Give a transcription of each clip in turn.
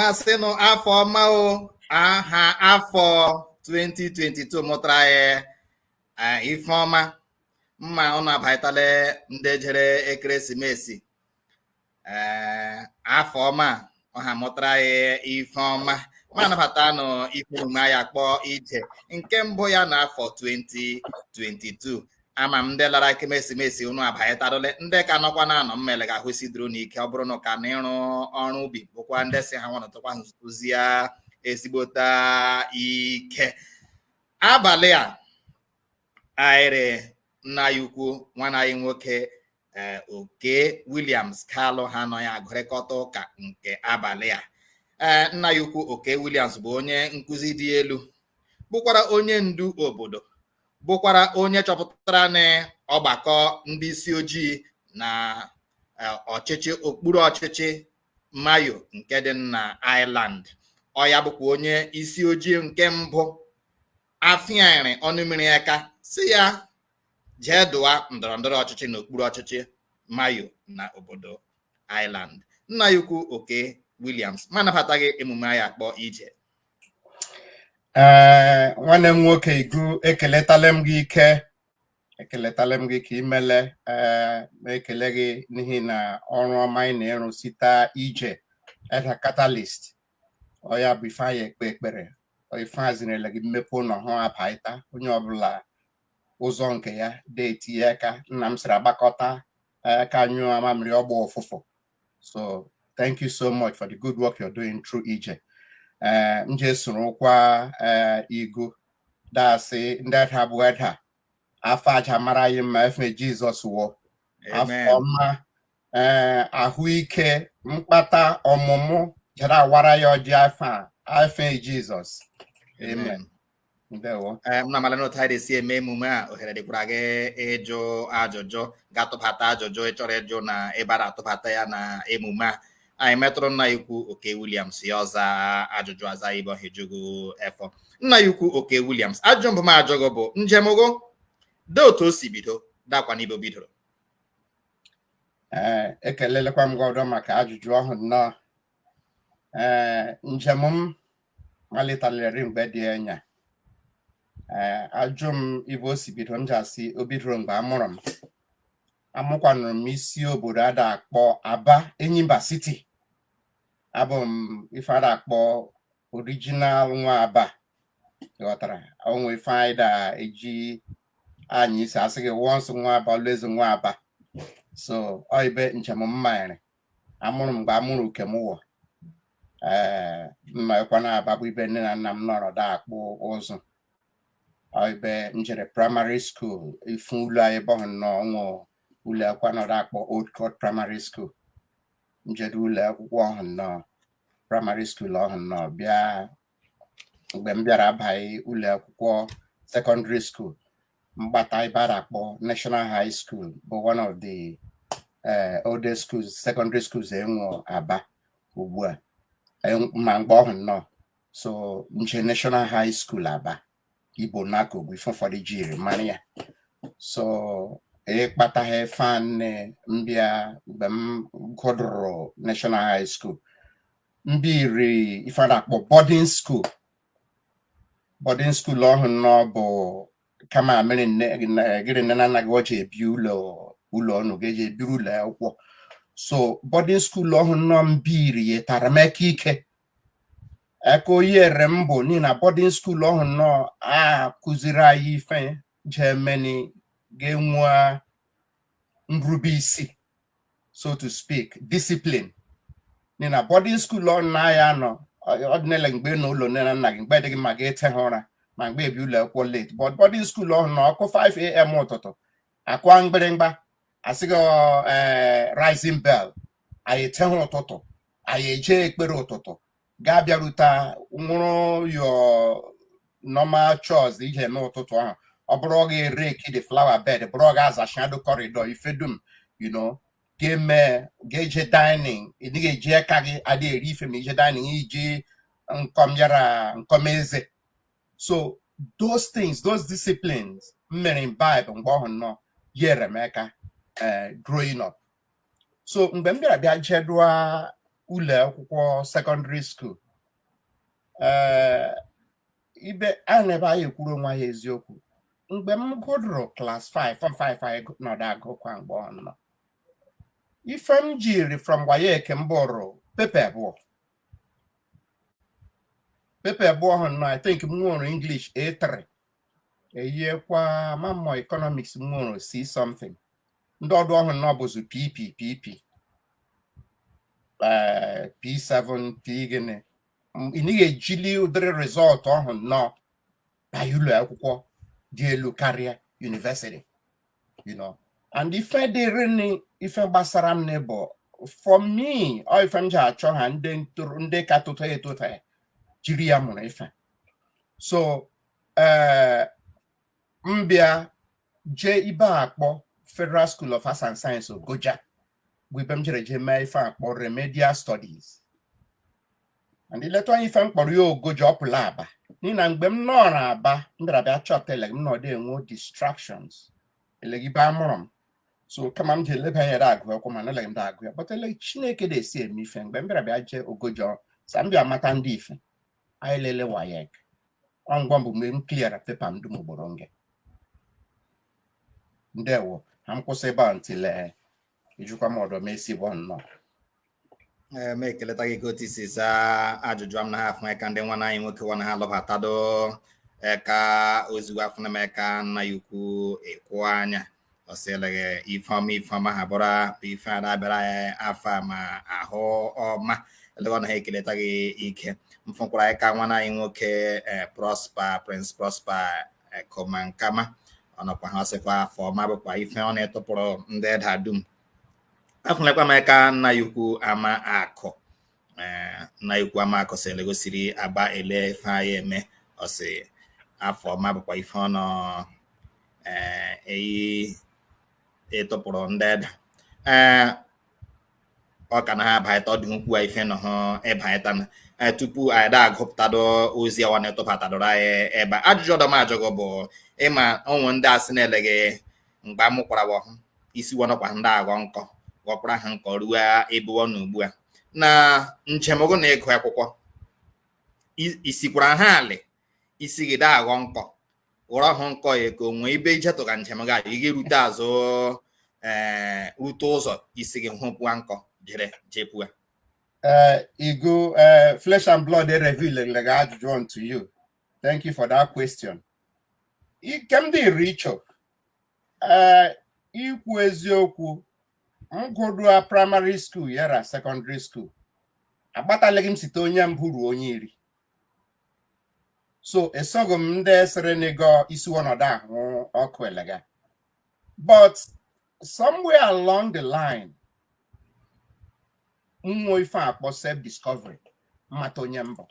ma asị nụ afọ ọma o aha afọ 2022 mụtara anyị eh, ife ọma mma ụnụ abaịtala ndị jere ekeresimesi ee afọ ọma ọha mụtara anyị ife ọma ma anabata nụ ife omume anyị akpọ ije nke mbụ ya na afọ 2022 ama m ndị lara ekeresimesi unu abanyetadole ndị ka nọkwa na anọ mmele ga-ahụ isi duru n'ike ọ bụrụ na ka na ịrụ ọrụ ubi bụkwa ndị si ha nwanọtụkwa nzụzi ya ezigbota ike abalị a anyị rị nna anyị ukwu nwanne anyị nwoke ee eh, Okey Williams Kalu ha nọ ya agụrịkọta ụka nke abalị a ee eh, nna anyị ukwu Okey Williams bụ onye nkụzi dị elu bụkwara onye ndu obodo bụkwara onye chọpụtara na ọgbakọ ndị isi ojii na eh, ọchịchị okpuru ọchịchị Mayo nke dị na Ireland ọ ya bụkwa onye isi ojii nke mbụ afịarị ọnụ mmiri aka sị ya jee dọwa ndọrọ ndọrọ ọchịchị n'okpuru ọchịchị Mayo na obodo Ireland nna anyị ukwu Okey Williams ma anabata gị emume anyị akpọ Ije ee nwanne m nwoke Igu ekeletala m gị ike ekeletala m gị ka imele ee na-ekele gị n'ihi na ọrụ ọma ị na-arụ site Ije Edda Catalyst ọ ya bụ ife anyị ekpe ekpere ife a zinere gị mmepe ụlọ hụ abaịta onye ọbụla ụzọ nke ya de etinye aka nna m sịrị agbakọta eh, aka nyụọ amamịrị ọ gbọọ ụfụfụ so thank you so much for the good work you're doing through Ije eh, m je sorokwa eh, Igu dasị ndị Edda bụ Edda afọ a ja-amara anyị mma efe Jizọs wụọ afọ ọma ee ahụike mkpata ọmụmụ jere awara anyị ọjị afọ a efe Jizọs amen ndewo Ee, m na-amala n'otu anyị de-esi eme emume a ohere dịkwara gị ịjụ ajụjụ gị atụbata ajụjụ ị chọrọ ịjụ na ebe a na-atụbata ya na emume a anyị metụrụ nna anyị ukwu Okey Williams ya ọza ajụjụ aza ibe ọ ha eju gụ efọ nna anyị ukwu Okey Williams ajụjụ mbụ m ajụ gụ bụ njem gụ dị otu o si bido dakwa n'ibe o bidoro ee ekelelekwa m gị ọdọ maka ajụjụ ọhụ nnọọ ee njem m maliteleri mgbe dị anya ee ajụ m ibe o si bido m ji asị o bidoro mgbe amụrụ m amụkwanụrụ m isi obodo a da-akpọ aba enyimba city abụ m ife a da-akpọ original nwa aba ị ghọtara o nwe ife anyị da-eji anyị isi asị gị once nwa aba always nwa aba so ọ ibe njem m malitere amụrụ mgbe amụrụ uke m ụwa ee mma ekwa na aba bụ ibe nne na nna m nọrọ da-akpụ ụzụ ọ ibe m jere primary school ifu ụlọ anyị ibe ọhụ nnọọ o nwe ụlọ akwụkwọ nọrọ akpọ old court primary school m jere ụlọ akwụkwọ ọhụ nnọọ primary school ọhụ nnọọ bịa mgbe m bịara abaghị ụlọ akwụkwọ secondary school m gbata ibe a da-akpọ National High School bụ one of the eh, oldest schools secondary schools e nwe Aba ugbu a ma mgbe ọhụ nnọọ so m jee National High School Aba Igbo Naco bụ ife ụfọdụ jiri mara ya so ịkpataghị fan m bịa mgbe m gụdụrụ National High School m biri ife na-akpọ boarding school boarding school ọhụ nnọọ bụ kama mere gịrị nne na nna gị ọchị ebi ụlọ ụlọ unu ga-eje ebiri ụlọ akwụkwọ so boarding school ọhụ nnọọ m biri yetara m aka ike aka o yere m bụ n'ihi na boarding school ọhụ nnọọ a kụziri anyị ife jee meni ga-enwe nrube isi so to speak discipline n'ihi na boarding school ọhụ na anyị nọ ọ dịghị ele mgbe ị nọ ụlọ nne na nna gị mgbe dị gị mma gị eteha ụra ma mgbe ebi ụlọ akwụkwọ late but boarding school ọhụ nnọọ ọ kụọ 5am ụtụtụ akụọ mgbịrịmgba a sị gị rising bell anyị eteha ụtụtụ anyị eje ekpere ụtụtụ ga-abịarute nwụrụ your normal chores ị je-eme ụtụtụ ahụ ọ bụrụ ọ ga-erake the flower bed bụrụ ọ ga-azachado corridor ife dum you know ga-eme ga-eje dining ị dịghị eji aka gị adị eri ife ma i je dining i ji nkọm yara nkọm eze so those things those disciplines m mere imbibe mgbe ọhụ nnọọ yere m aka eh, growing up so mgbe m bịara bịa jedụọ ụlọ akwụkwọ secondary school ibe anyị na ebe anyị ekwuru onwe anyị eziokwu mgbe m gụdụrụ class 5 form 5 anyị nọdụ agụkwa mgbe ọhụ nnọọ ife m jiri from waec m bụrụ paper abụọ paper abụọ ọhụ nnọọ i think m nwụrụ english a3 eyiekwa m ma ọ economics m nwụrụ c something ndị ọdọ ọhụ nọ bụzi pp pp eh, p7 p gịnị M- ị naghị ejili ụdịrị result ọhụ nnọọ na ụlọ akwụkwọ dị elu karịa university you know and ife dịrị nị ife gbasara m nị bụ for me ọ ife m ji achọ ha ndị ntoro ndị ka tụta etụta jiri ya mụrụ ife so eh, m bịa jee ibe a kpọ Federal School of Arts and Science Ogoja bụ ibe m jere jee mee ife a kpọ remedial studies and i leta anya ife m kpọrọ ya Ogoja ọ pụla Aba n'ihi na mgbe m nọrọ Aba m bịara bịa chọta ele m nọdụ enwe distractions eleghị ibe a mụrụ m so kama m ji eleba anya agụ akwụkwọ mana eleghị m da agụ ya but ele Chineke na-esi eme ife mgbe m bịara bịa jee Ogoja sa m bịa mata ndị ife anyị lele WAEC ngwa mbụ mgbe m clear paper m dum ugboro nge ndewo ha m kwụsị ebe a ntile eh, ijikwa m ọdọ m esi bụ nnọọ Eh, m ekeleta gị ka otu i si zaa ajụjụ a m na ha afụ eka ndị nwana anyị nwoke nwana ha lọbatado eka ozugbo afụna m eka nna anyị ukwu ịkwụ anya ọ sị eleghị ife ọma ife ọma ha bụrụ ife a na-abịara anyị afọ a ma ahụ ọma eleghị ọ na ha ekeleta gị ike m fụkwara eka nwana anyị nwoke eh, Prosper Prince Prosper eh, Koma Nkama ọ nọkwa ha ọ sịkwa afọ ọma bụkwa ife ọ na-etụpụrụ ndị Edda dum afụlekwa m eka nna anyị ukwu Ama Akụ eh, nna anyị ukwu Ama Akụ sị eleghị o siri Aba ele ife anyị eme ọ sị afọ ọma bụkwa ife ọ nọ eh, eyi ịtụpụrụ ndị Edda eh, ọ ka na ha abaịta ọ dị ukwu a ife nọ ha ịbaịta na eh, tupu anyị da agụpụtado ozi awa na-etụbatadoro anyị ebe a. ajụjụ ọdọ m ajụ gị bụ ị ma ụmụ ndị a sị na eleghị mgbe a mụkwara wọ ọhụ isi wọ nọkwa ha da aghọ nkọ ghọkwara ha nkọ ruo ebe ọ nọ ugbu a na njem gị na ịgụ akwụkwọ i- i sikwara ha alị isi gị da aghọ nkọ ghọrọ hụ nkọ ya ka o nwe ibe i jetụ ka njem gị a, ị ga-erute azụ ee rute ụzọ isi gị hụpụa nkọ jere jepụa Uh, Igu, uh, flesh and blood, they reveal like ajụjụ to you. Thank you for that question. ike m dịrị ịchọ ee ikwu eziokwu m gụdụa primary school yara secondary school agbatalighị m site onye mbụ ruo onye iri so esoghị m ndị sịrị eleghị isi wọ nọdụ ahụ ọkụ elega but somewhere along the line nwe ife a kpọ self discovery m mata onye m bụ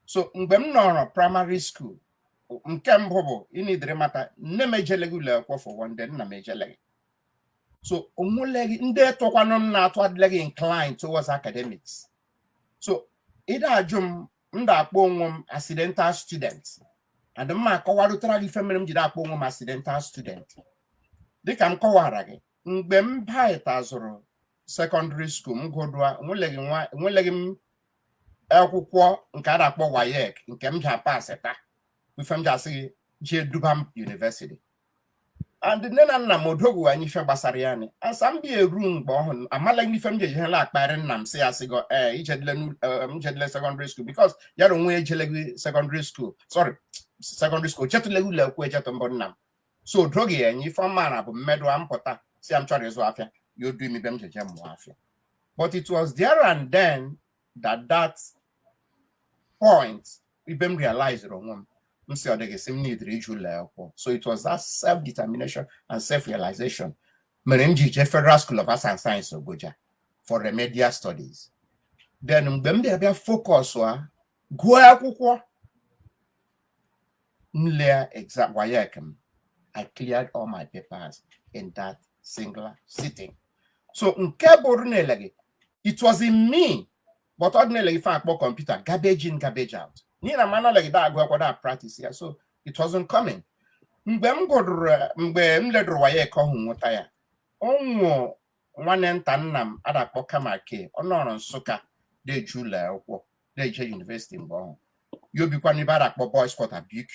so mgbe m nọrọ primary school nke mbụ bụ ị nidiri ịmata nne m ejeleghị ụlọ akwụkwọ for one day nna m ejeleghị so onweleghị ndị tụkwanụ m na-atụ adịleghị inclined towards academics so ị da-ajụ m m da-akpọ onwe m accidental student and m akọwarụtara gị ife mere m ji da-akpọ onwe m accidental student dịka m kọwara gị mgbe m batazụrụ secondary school m gụdụa enweleghị m akwụkwọ nke a da-akpọ WAEC nke m ji apasịta ife m ji asị gị jee duba m university and nne na nna m odoghị anya ife gbasara ya ni and sa m bịa eru mgbe ọhụ amaleghị ife m ji ejihela akparị nna m sị ya sị go ee ijedile m jedile secondary school because yara onwe ejeleghị secondary school sorry secondary school ejetụleghị ụlọ akwụkwọ ejetụ mbụ nna m so o doghị ya anya ife ọ maara bụ m medụa m pụta si ya m chọrọ ịzụ afịa ya odu m ibe m jeje mụọ afịa but it was there and then that that point ibe m realized onwe m m si ọ dịghị si m nidiri ije ụlọ akwụkwọ so it was that self determination and self realization mere m ji jee federal school of arts and science ogoja for remedial studies then mgbe m bịa bịa focus a gụọ akwụkwọ m lea exam WAEC m I cleared all my papers in that singular sitting so nke bụ ọ dị n'eleghe it was in me but ọ dị n'eleghe ife a kpọ computer garbage in garbage out n'ihi na m naleghị da-agụ akwụkwọ da practice ya so it wasn't coming mgbe m gụdụrụ mgbe m ledụrụ WAEC ọhụ nweta ya ọnwụ nwanne nta nna m a da-akpọ Kamake ọ nọrọ Nsụka da-eje ụlọ akwụkwọ da-eje university mgbe ọhụ ya obikwa n'ibe a da-akpọ boys quarter BQ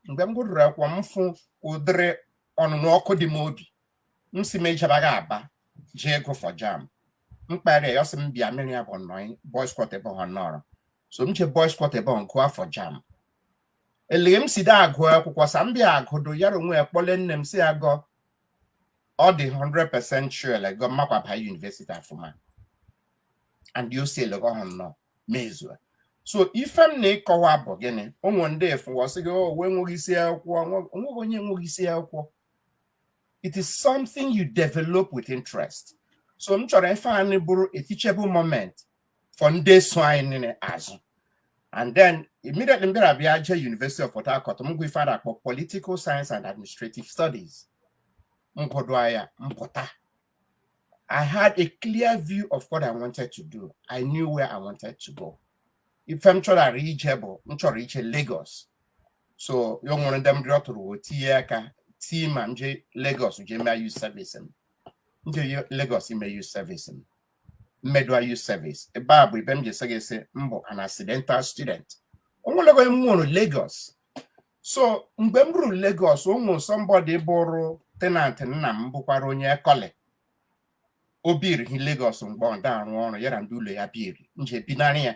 mgbe m gụrụrụ akwụkwọ m fụ ụdịrị ọnụnụ ọkụ dị m obi m si m ejebaghị Aba jee gụọ for JAMB m kpara ya ọ sị m bịa mụ ra ya bi na boys quarter ebe ọhụ ọ nọrọ so m jee boys quarter ebe ọhụ gụọ for JAMB eleghe m si da agụ akwụkwọ sa m bịa agụdụ yara onwe ya kpọle nne m sị ya go ọ dị 100% sure lego m makwa baa university afụma and o si eleghe ọhụ nọ mezue so ife m na ịkọwa bụ gịnị o nwe ndị fụwa sị gị wo enweghị isi akwụkwọ nwe- onweghị onye nweghị isi akwụkwọ it is something you develop with interest so m chọrọ ife anyị bụrụ a teachable moment for ndị so anyị niile azụ and then immediately m bịara bịa jee University of Port Harcourt m gụ ife a da-akpọ political science and administrative studies m gụdụa ya m pụta I had a clear view of what I wanted to do. I knew where I wanted to go. Ife m chọrọ ara ije bụ m chọrọ ije Lagos. So ya nwere ndị m rịọtụrụ wo tinye aka tii ma m jee Lagos jee mee youth service m. M jee Lagos ime youth service m. mmedua youth service ebe a bụ ibe m ji asị gị sị m bụ an accidental student o nweleghị onye m nwerụ Lagos so mgbe m ruru Lagos o nwe somebody bụrụ tenant nna m bụkwara onye ekọle o biri hi Lagos mgbe ọ da-arụ ọrụ ya ra ndị ụlọ ya biri m je binara ya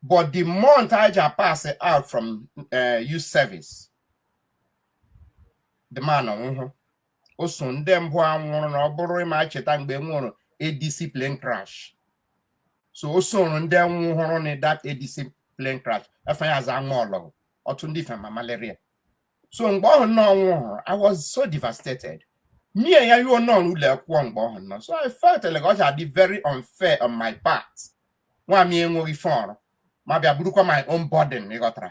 but the month I ja pass out from uh, youth service the man anwụhụ o soro ndị mbụ a nwụrụ na ọ bụrụ ị ma-echeta mgbe e nwerụ ADC plane crash so o soro ndị nwụhụrụ na that ADC plane crash afa ya a za nwa ọlọgụ ọtụ ndị fema malaria so mgbe ọhụ nnọọ ọ nwụhụrụ I was so devastated nwunye ya nọrọ ụlọ akwụkwọ mgbe ọhụ nnọọ so I felt elege ọ ja-adị very unfair on my part nwanyị enweghị ife ọrụ m abịa burukwa my own burden ị ghọtara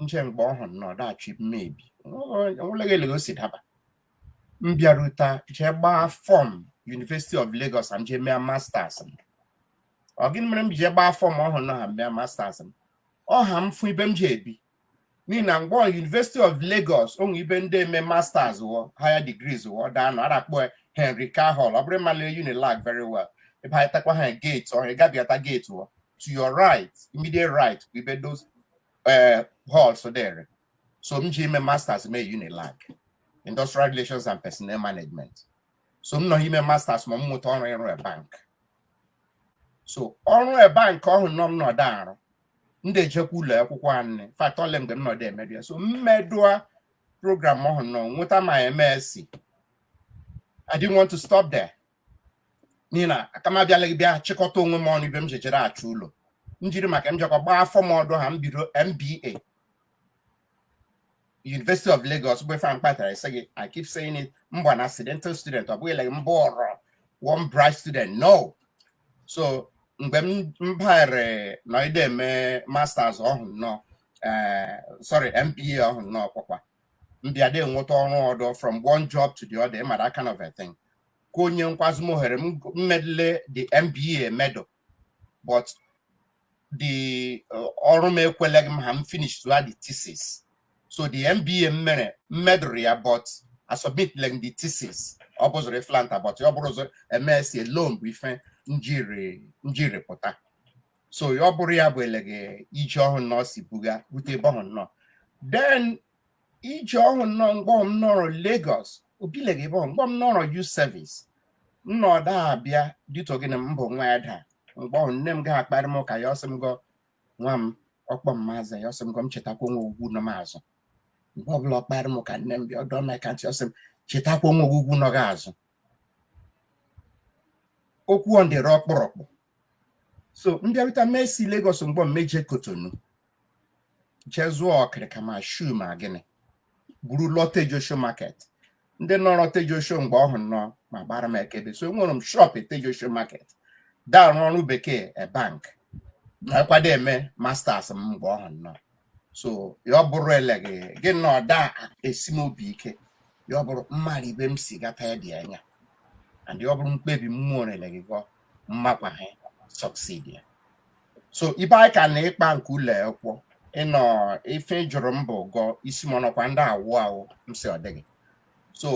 m je mgbe ọhụ nnọọ da-achụ m ebi o nweghị elege o si daba m bịarute jee gbaa form University of Lagos m jee mee masters ọ gịnị mere m ji jee gbaa form ọhụ nnọọ ha m mee masters ọ ha m fụ ibe m ja-ebi n'ihi na mgbe University of Lagos o nwe ibe ndị eme masters wọ higher degrees wọ da-anọ a ra-akpọ Henry Carr Hall ọ bụrụ ị mala Unilag very well ị bahatakwa ha gate ọhụ ị gabịata gate wọ to your right immediate right bụ ibe those eh, halls dịrị so m je ime masters mee Unilag industrial relations and personnel management so m nọ eme masters ma m nweta ọrụ ọrụ a bank so ọrụ a bank ọhụ nnọọ m nọdụ arụ m da-ejekwa ụlọ akwụkwọ in fact ole mgbe m nọdụ emedu ya so m medụa program ọhụ nnọọ nweta my MSc I didn't want to stop there n'ihi na aka m abịalaghị bịa chịkọta onwe m ọnụ ibe m jejere achụ ụlọ m jiri maka m jekwa gbaa form ọdọ ha m bido MBA University of Lagos bụ ife a kpatara m sị gị I keep saying it m bụ an accidental student ọ bụghị like m bụrụ one bright student no so mgbe m baghere nọide eme masters ọhụ nnọọ eh, sorry MBA ọhụ nnọọ kpọkwa m bịa de nweta ọrụ ọdọ from one job to the other ị mara that kind of a thing ka o nyekwazị m ohere m medụle the MBA emedụ but the uh, ọrụ m ekweleghị m ha m finishụa the thesis so the MBA m mere m medụrụ ya but asubmitleghị the thesis ọ bụzụrụ flanta but ọ bụrụzọ MSc alone bụ ife m jiri pụta so ọ bụrụ ya bụ elege ije ọhụ nnọọ si buga rute ebe ọhụ nnọọ then iji ọhụ nnọọ mgbe ọhụ m nọrọ Lagos obile gị bụ mgbe ọhụ m nọrọ youth service nna ọda abịa dito gị na mbụ nwa ya daa mgbe ọhụ nne m gaghị akparị m ụka ya sị m gọ nwa m ọ kpọ m mazị ya sị m gọ m chetakwa nwa ogwugwu nọ m azụ mgbe ọbụla ọ kparị m ụka nne m bịa ọ dọ m eka ntị ọ sị m chetakwa nwa ogwugwu nọ gị azụ okwu ọ dịrị ọkpụrụkpụ so m bịarịta mee si Lagos mgbọ m eje Cotonou jee zụọ ọkịrịka ma shoe ma gịnị buru lụọ Tejuosho market ndị nọrọ Tejuosho mgbe ọhụ nnọọ ma gbara m ekebe so enwere m shop Tejuosho market da arụ ọrụ bekee a bank na-ekwado eme masters m mgbe ọhụ nnọọ so ya ọ bụrụ eleghị gị na ọ da esi m obi ike ya ọ bụrụ m mara ibe m si gata ya dị anya and ya ọ bụrụ mkpebi mmụọ eleghị gọ m makwa ha succeed ya so ibe anyị ka na ịkpa nke ụlọ akwụkwọ ịnọ ife ị jụrụ m bụ gọ ị sị m ọ nọkwa ndị awụ awụ m sị ọ dịghị so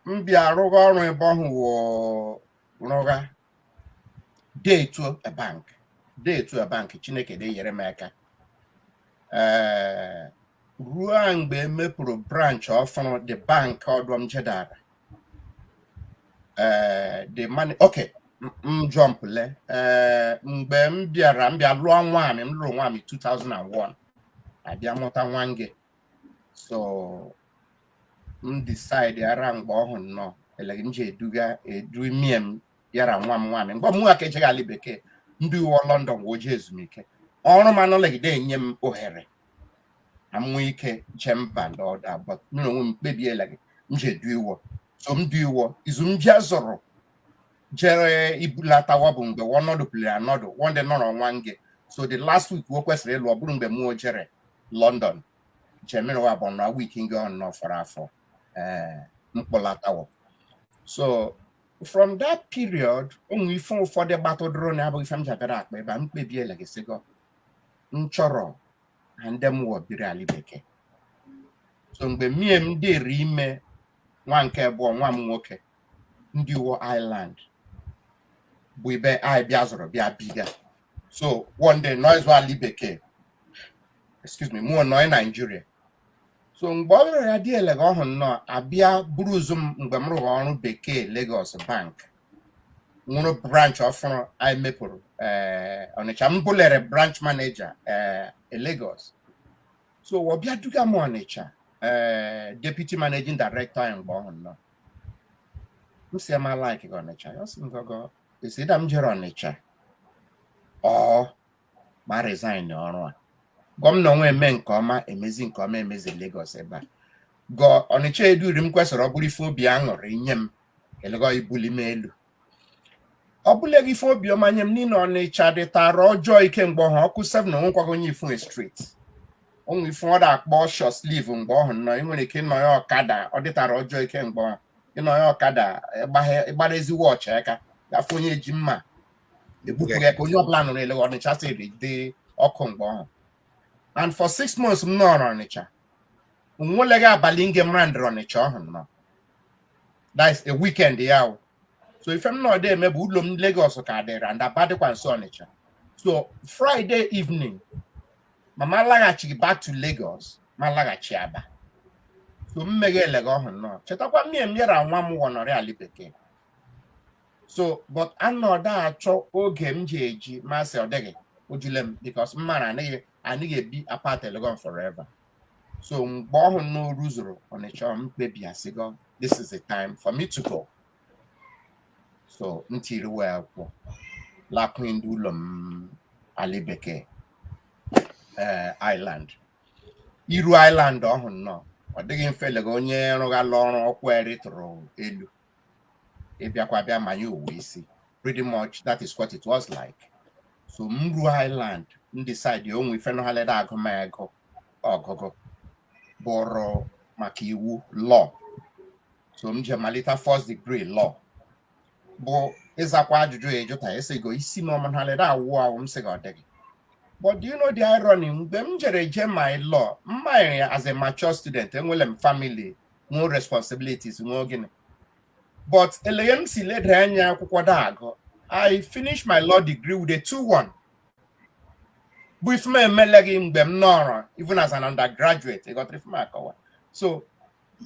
m bịa rụgha ọrụ ebe ọhụ wụ rụgha de etu a bank de etu a bank chineke de enyere m aka ee ruo mgbe e mepụrụ branch ọfụrụ the bank ọdọ m jedara ee the money okay m jump le ee mgbe m bịara m bịa lụọ nwaanyị m lụrụ nwaanyị 2001 abịa mụta nwa nge so m decide ara mgbe ọhụ nnọọ eleghị m ji eduga edu mie m yara nwa m nwaanyị mgbe mụ aka ejeghị ala bekee m du iwọ London wee jee ezumike ọrụ m anọlegide enye m ohere na mmụọ ike je mba ndị ọdọ but mụ na onwe m kpebi eleghị m ji edu iwọ so m du iwọ izu m bịa zọrọ jere ibulata wọ bụ mgbe ọnọdụ pụliri anọdụ wọnde nọrọ ọnwa nge so the last week o kwesịrị ịlụ ọ bụrụ mgbe mụọ jere london jemiri wọ bụ na week nge ọ nọ fọrọ afọ ee m kpọlata wọ so from that period o nwe ife ụfọdụ gbatụdụrụ na abụghị ife m jabịara akpa ebe a m kpebi eleghị sị gọ m chọrọ na ndị m wọ biri ala bekee so mgbe mie m dịrị ime nwa nke abụọ nwa m nwoke m du iwọ Ireland bụ ibe anyị bịa zụrụ bịa biga so wọnde nọzị ali bekee excuse me mụọ nọị naijiria so mgbe ọ bịara ya dị elega ọhụ nnọọ abịa buru ụzụ m mgbe m rụgha ọrụ bekee Lagos bank nwụrụ branch ọfụrụ anyị mepụrụ eh, Ọnịcha m bụlere branch manager a Lagos so ọ bịa duga m Ọnịcha eh, deputy managing director anyị mgbe ọhụ nnọọ m sị ya m alike gị Ọnịcha ya sị m gọgọ esi ịda m jere Ọnịcha ọ ma resign ọrụ a gọmna onwe eme nke ọma emezi nke ọma emezi Lagos ebe a gọ Ọnịcha eduri m kwesịrị ọ bụrụ ife obi aṅụrị nye m elege ibuli m elu ọ bụlaghị ife obi ọma nye m n'ihi na Ọnịcha dịtara ọjọọ ike mgbe ọhụ ọ kụọ 7 na onwekwaghị onye ị fụ street o nwe ife ọ da-akpọ short sleeve mgbe ọhụ nọ ị nwere ike ịnọ ya ọkada ọ dịtara ọjọọ ike mgbe ọhụ ịnọ ya ọkada ịgbara ezi watch aka gafe onye ji mma egbupụ gị aka onye ọbụla nụrụ ele ọnịcha siri dị ọkụ mgbe ọhụ and for six months m nọrọ ọnịcha onweleghị abalị nge m ra ndịrị ọnịcha ọhụ nọ that's a weekend ya o so ife m nọdụ eme bụ ụlọ m Lagos ka dịrị and aba dịkwa nso ọnịcha so Friday evening mama laghachi back to Lagos ma laghachi aba so m meghe eleghe ọhụ nọ chetakwa mmie m yara nwa m wọ nọrị ali bekee so but anọdụ achọ oge m ji eji ma sị ọ dịghị ojule m because m mara anaghị anaghị ebi apart elege ọhụ forever so mgbe ọhụ n'oru zuru ọnịcha m kpebi asịgo this is the time for me to go so m tiiri wọ akwụkwọ lakwuru ndị ụlọ m ali bekee ee Ireland iru Ireland ọhụ nnọọ ọ dịghị mfe elege onye rụghala ọrụ ọkwa ya rịtụrụ elu ịbịakwa bịa manye ụwa isi pretty much that is what it was like so m ruo Ireland m decide o nwe ife nọghalede agụ m agụụ ọgụgụ bụrụ maka iwu law so m je malite first degree law bụ ịzakwa ajụjụ ya ejụta esigo isi m ọmụnhalede awụ awụ m sị gị ọ dịghị but do you know the irony mgbe m jere je my law m manyere ya as a mature student enwere m family nwee responsibilities nwee gịnị but eleghe m si leda anya akwụkwọ da-agụ I finished my law degree with a 2-1 bụ ife m emeleghị mgbe m nọrọ even as an undergraduate ị ghọtara ife m akọwa so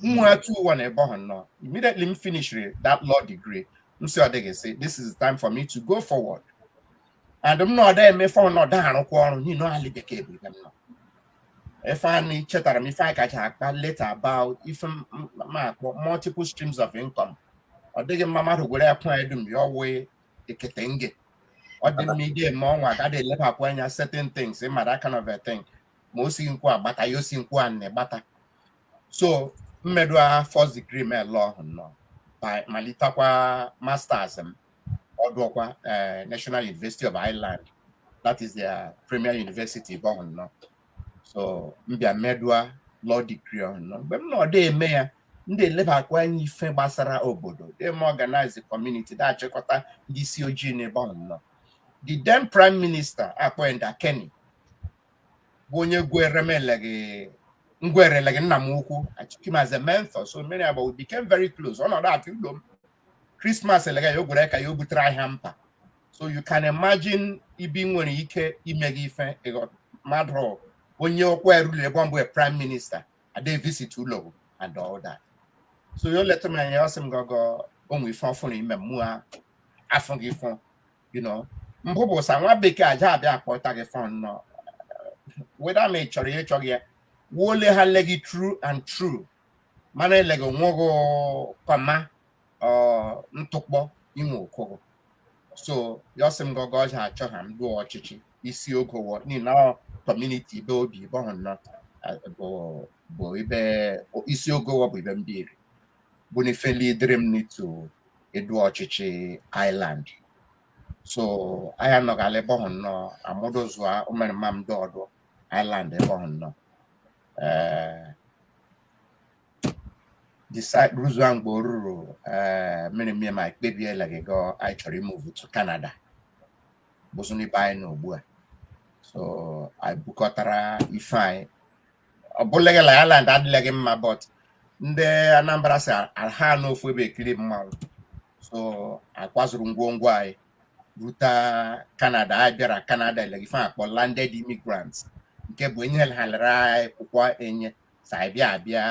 nwa 2-1 ebe ọhụ nnọọ immediately m finishiri that law degree m sị ọ dịghị sị this is the time for me to go forward and m nọ da-emefe nọ da-arụkwa ọrụ n'ihi na ali bekee bụ ibe m nọ ife anyị chetara m ife anyị kacha akpa later about ife m- m- m akpọ multiple streams of income ọ dịghị mma mmadụ gwere akwa dum ya wụ ekete nge ọ dị mma ide eme ọnwa agaghị elepapụ anya certain things ị mara that kind of a thing ma o sighị nkwu a gbata ya o si nkwu a na-egbata so m merụ a first degree m ele ọhụ nọ bịa malitakwa masters m ọdụọkwa eh, National University of Ireland that is their premier university ebe ọhụ nọ so mbịa medua law degree ọnọ mgbe m nọdụ eme ya ndị elebakwa anya ife gbasara obodo dem organize the community da-achịkọta ndị isi ojii n'ebe ọnọ the then prime minister akpọ Enda Kenny bụ onye gwere m legị ngwere legị nna m ukwu I took him as a mentor so many about we became very close ọnọdụ atụ ụlọ m Christmas elega ya o gwere car ya o butere anyị hamper so you can imagine ibi nwere ike ime gị ife ịghọ- mmadụ onye ọkwa erule ebe mbụ prime minister ade visit ụlọ and all that so ya o leta m anya ọ sị m gọgọ onwe ife ọfụrụ ime mụ a, afụ gị fụ you know mbụ bụ sa nwa bekee aja abịa akpọta gị fọn nọ whether ma ị chọrọ ya ịchọghị ya wo ele ha le gị through and through mana eleghị onweghị comma ntụkpọ inwe okoro so ya sị m gọgọ ọja achọ ha m dụọ ọchịchị isi ogo wo niile community ibe o bi ebe ọhụ nọ bụ ebe isi ogo wo bụ ebe mbiri bụ na ifeli dịrị m n'ito edu ọchịchị Ireland so anyị anọgala ebe ọhụ nọ amụdụzụa ụmụrịma m dị ọdọ Ireland ebe ọhụ nọ rụzuo mgbe o ruru mmiri mmiri ma kpebie eleghị gị anyị chọrọ ị-move to Canada bụzụ n'ibe anyị nọ ugbu a so anyị bukọtara ife anyị ọ bụleghị la Ireland adịleghị mma but ndị Anambra sị aha anọ ofu ebe ekiri mmanwụ so akwazuru ngwongwo anyị ruta Canada anyị bịara Canada legị ife akpọ landed immigrants nke bụ enye ha lere anyị akwụkwọ enye so anyị bịa abịa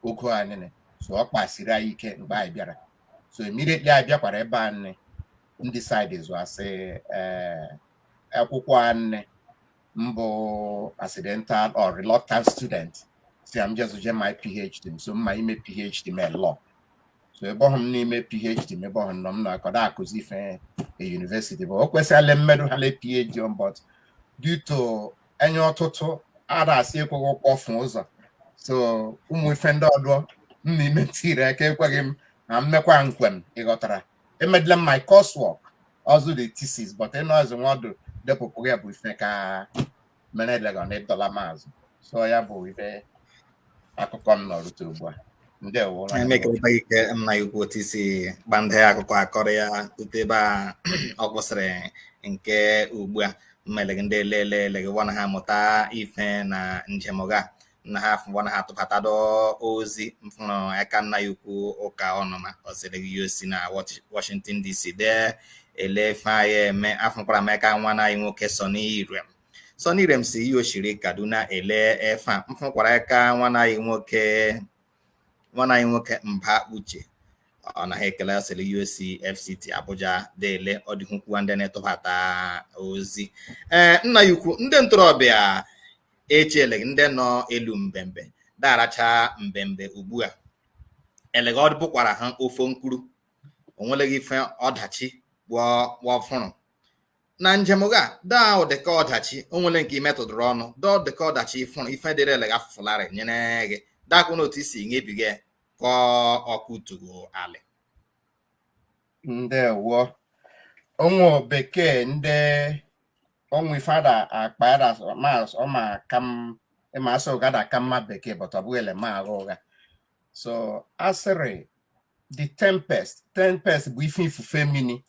ogo a nne so ọ kpasiri anyị ike mgbe anyị bịara so immediately anyị bịakwara ebe a nne m decide zụ asị eh, akwụkwọ a nne mbụ accidental or reluctant student sị ha m jezụ je mea phd m so mma ime phd m law so ebe ọhụ m n'ime phd m ebe ọhụ nọ m nọkwadụ akụzi ife university but o kwesịrị mmedu ha le phd ọnọ but due to enye ọtụtụ ada asị ekweghị kpọfụ ụzọ so ụmụ ife ndị ọdọ m n'ime tiri aka ekweghị m na mmekwa nkwem ịghọtara emedila m my coursework ọzụ the thesis but ịnọzi nwa ọdụ depụpụghị ya bụ ife ka mere elega na ịdọla m azụ so ya bụ ibe akụkọ m nọrụta ugbu a ndewo nwanne m. emekata ike nna ya ukwu otu isi gba ndị akụkọ akọrọ ya rute ebe a ọ kwụsịrị nke ugbu a mmelegị ndị elele eleghị wana ha mụta ife na njem gị a na ha afụgbọ na ha tụbatado ozi mfụrụ aka nna anyị ukwu Ụka Ọnụma ọ sịrị gị ya o si na Washington DC dee ele ife anyị eme afụkwara m aka nwanna anyị nwoke Sonny Irem Sonny Irem si ihe o shiri Kaduna ele ife a mfụkwara aka nwanna anyị nwoke nwanna anyị nwoke Mba Uche ọ na-ekele ọ sịrị o si FCT Abuja dee ele ọ dị ukwukwa ndị na-etụbata ozi ee nna anyị ukwu ndị ntorobịa echele ndị nọ elu mbembe da-aracha mbembe ugbu a elega ọ bụkwara ha ofu mkpụrụ onweleghị ife ọdachi wọ fụrụ na njem ga daa ụdịka ọdachi onwele nke imetụdụrụ ọnụ daa ụdịka ọdachi ị fụrụ ife dịrị elega fụlarị nyere gị dakwa na otu isi nyebiga ka ọkụ tugo alị ndewo ụmụ bekee ndị onwe ife ada akpa ada ma ọ ma ka m ịma asị ụga da ka mma bekee but ọ bụghị ele ma agha ụgha so asịrị the tempest tempest bụ ife ifufe mini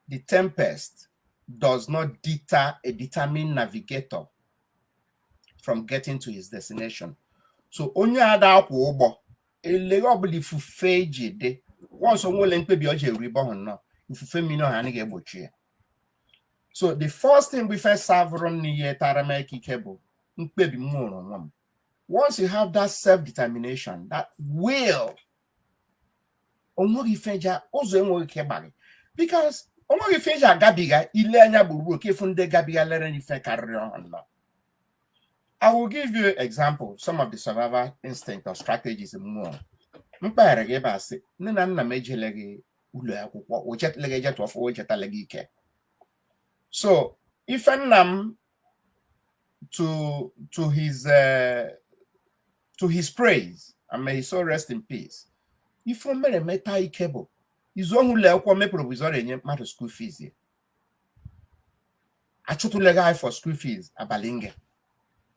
the tempest does not deter a determined navigator from getting to his destination so onye a da-akwọ ụgbọ elega ọbụla ifufe ji dị once onwele mkpebi ọ ji eru ibe ọhụ nọ ifufe mini ọhụ anaghị egbochi ya so the first thing bụ ife savụrụ m nyetara m aka ike bụ mkpebi m nwere onwe m once you have that self determination that will onweghị ife ja ụzọ enweghị ike gbaghị because onweghị ife ị ja-agabiga ị lee anya gburugburu ka ị fụ ndị gabigalere ife karịrị ọhụ nọ I will give you example some of the survival instinct or strategies m nwere m kpaara gị ebe a sị nne na nna m ejeleghị ụlọ akwụkwọ o jetaleghị ejetụ ọfụ o jetaleghị ike so ife nna m to to his uh, to his praise and may his soul rest in peace ife o mere meta ike bụ issue ụlọ akwụkwọ mee provision enye mmadụ school fees ya achụtaleghị anyị for school fees abalị nge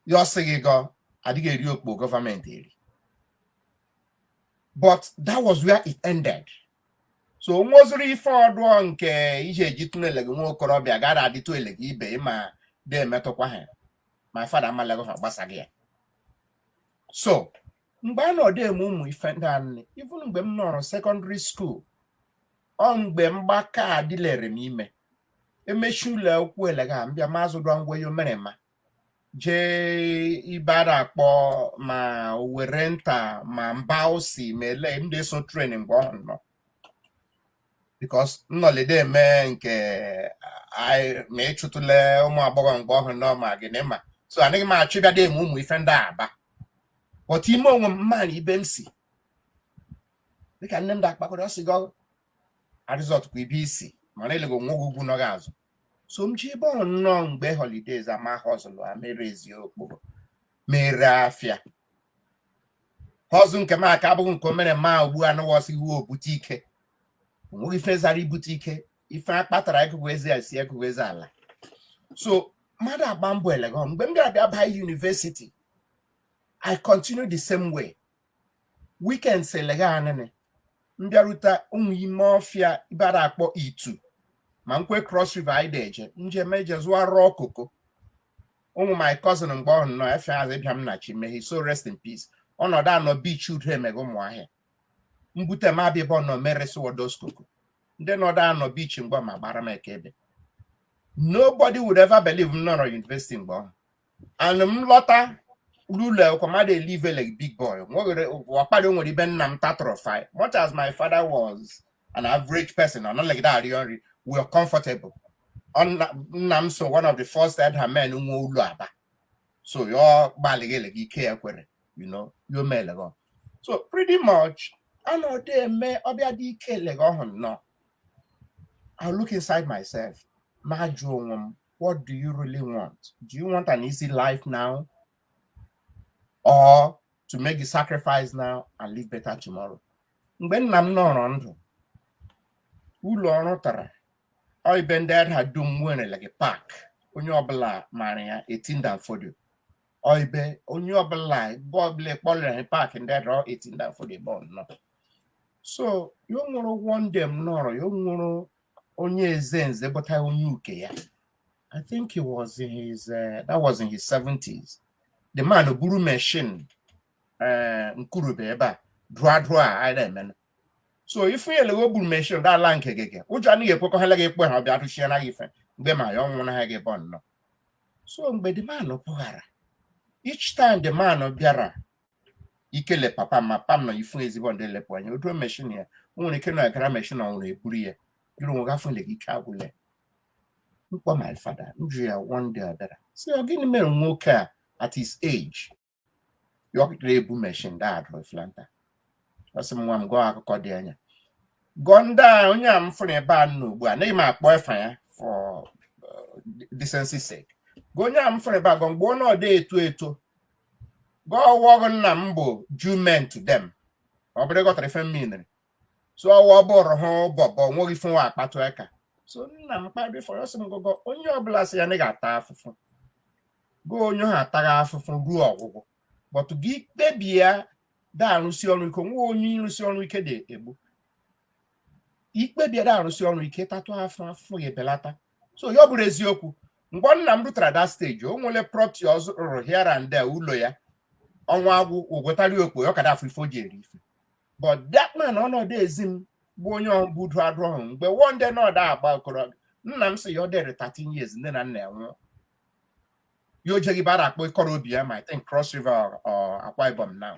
ya ọ sị gị gọ adịghị eri okpo gọọmenti eri but that was where it ended so nweziri ife ọdụọ nke ihe eji tụnele gị nwa okorobịa gara adịtụ ele gị ibe ị ma dị emetụkwa ha my father amalegha gbasa gị ya so mgbe a nọ de eme ụmụ ife ndị anị even mgbe m nọrọ secondary school ọ mgbe mgbaka adịlere m ime emechi ụlọ akwụkwọ elega mbịa ma azụdụọ ngwa yo mere ma jee ibe a da akpọ ma Owerrinta ma Mbawsi ma ele m da eso train mgbe ọhụ nọ because nnọlide eme nke ma ịchụtụle ụmụ agbọghọ mgbe ọhụ nọ ma gịnị ma so anaghị m achọ ịbịa eme ụmụ ife ndị aba but ime onwe m m mara ibe m si dịka nne m da akpakarị ọ sị gị arịzọtụkwa ibe i si mara elege nwa ugwu nọ gị azụ so m je ibe nọ mgbe holidays a ma hustle a mere eziokwu mere afịa hustle nke m aka abụghị nke o mere ma ugbu a nụwa sị gị wo obute ike onweghị ife zara ibute ike ife akpatara ekugu ezi e si ekugu ezi ala so mmadụ agba mbọ elege mgbe m bịara bịa baa university I continue the same way weekends elege anịnị m bịarute ụmụ ime ọfịa ibe a da akpọ Itu ma nkwe Cross River anyị de eje m je m eje zụọ raw cocoa ụmụ my cousin mgbe ọhụ nọ efe azụ Ibiam Nnachi may his soul rest in peace ọnọdụ anọ beach udo emeghe ụmụ ahịa m bute m abịa ebe ọ nọ m eresi wo those cocoa ndị nọdụ anọ beach mgbe ma gbara m eke ebe nobody would ever believe m nọrọ university mgbe ọhụ and m lọta ụlọ kwa m a da elive like big boy nwere ọkpara nwere ibe nna m tatụrụ fi much as my father was an average person ọ nọlegide that arịọ nri we were comfortable nna m so one of the first Edda men nwe ụlọ Aba so yo gbalịghị elege ike ya kwere you know yo mee elege so pretty much a nọde eme ọbịa dị ike elege ọhụ nọ I look inside myself ma jụọ onwe m what do you really want? Do you want an easy life now? Or to make the sacrifice now and live better tomorrow? Mgbe nna m nọrọ ndụ, ụlọ ọ rụtara ọ ibe ndị Edda dum were like park onye ọbụla maara ya 18 Dan Fodio ọ ibe onye ọbụla ebe ọbụla kpọrọ ya park ndị Edda 18 Dan Fodio ebe ọ nọ so yo nwụrụ one day m nọrọ yo nwụrụ onye eze nze bụta onye uke ya I think he was in his uh, that was in his 70s the man buru machine uh, nkurube ebe a drụa drụa a na-eme so ifu ya elewe buru machine da ala nke gị ụjọ anaghị ekwekọ ha leghị ekwe ha ọbịa atụchie naghị ife mgbe ma ya ọnwụ naghị gị bọ nnọọ so mgbe the man pụghara each time the man bịara ikele papa ma papa m na ifu ezigbo ndị lepụ anya otu meshin ya o nwere ike na-agara meshin ọ nwụrụ eburu ya jụrụ onwe gafụ na ike agwụla m kpọọ my father m jụ ya one day adara si ọ gịnị mere nwoke a at his age ya ọ kpụtara ebu meshin da adụrụ flanta ọ sị m nwa m gụọ akụkọ dị anya gụọ ndị a onye a m fụrụ ebe a nọ ugbu a naghị m akpọ efa ya for uh, decency sake gụọ onye a m fụrụ ebe a gụọ mgbe ọ nọdụ eto eto gwa ọwụ ọgụ nna m bụ Jew man to them ọ bụrụ ị ghọtara ife mmiri so ọwụ ọ bụrụ ha bobo nweghị ife wa akpatụ aka so nna m kparị fọrọ ọ sị m gụgọ onye ọbụla sị ya na ị ga-ata afụfụ gụọ onye ha ataghị afụfụ ruo ọgwụgwụ but gị kpebie ya da arụsị ọrụ ike nwa onye ịrụsị ọrụ ike da egbu ikpebie da arụsị ọrụ ike tatụ afụfụ ya ebelata so ya ọ bụrụ eziokwu mgbe nna m rutara that stage o nwere property ọ zụrụ here and there ụlọ ya ọnwa agwụ ụgwọtari okpo ya ọ ka da afụ ife o ji eri ife but that man ọ nọdụ ezi m bụ onye ọbụ du adụ ọhụrụ mgbe one day nọdụ agba okorobịa nna m sị ya ọ dịrị 13 years nne na nna ya nwụọ ya o je ibe a da akpọ Ikoro Obiyama I think Cross River or Akwa Ibom now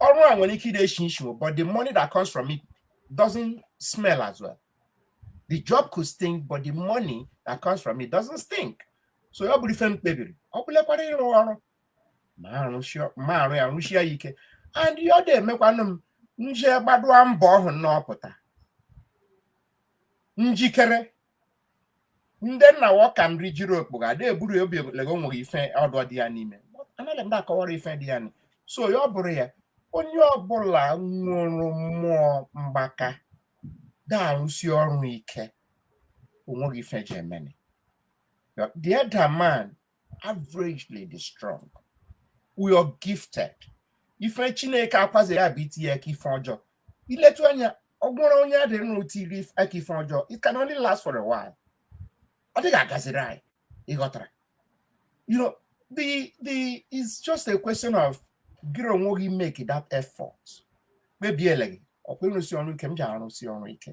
ọrụ a nwere ike ịda eshi ishi but the money that comes from it doesn't smell as well the job could stink but the money that comes from it doesn't stink so ya ọ bụrụ ife m kpebiri ọ bụlekwara ịrụ ọrụ ma arụ ya rụshie ya ike and ya ọ da emekwanụ m nji gbadụa mbọ ọhụrụ na ọpụta njikere ndị nna wo ka nri jiri okpogho da eburu ya obi lego nweghị ife ọdọ dị ya n'ime anaghị m da akọwara ife dị ya nị so ya ọ bụrụ ya onye ọbụla nwụrụ mmụọ mgbaka ga-arụsi ọrụ ike o nweghị ife ji emene the Edda man averagely dị strong we are gifted ife Chineke akwazi ya bụ itinye aka ife ọjọọ iletu anya ọ bụrụ onye a dịrị n'itinye aka ife ọjọọ it can only last for a while ọ dịghị agaziri anyị ị ghọtara you know the it's just a question of gịrị onwe gị make that effort kpebiele gị ọkwa ịrụsi ọrụ ike m ji arụsi ọrụ ike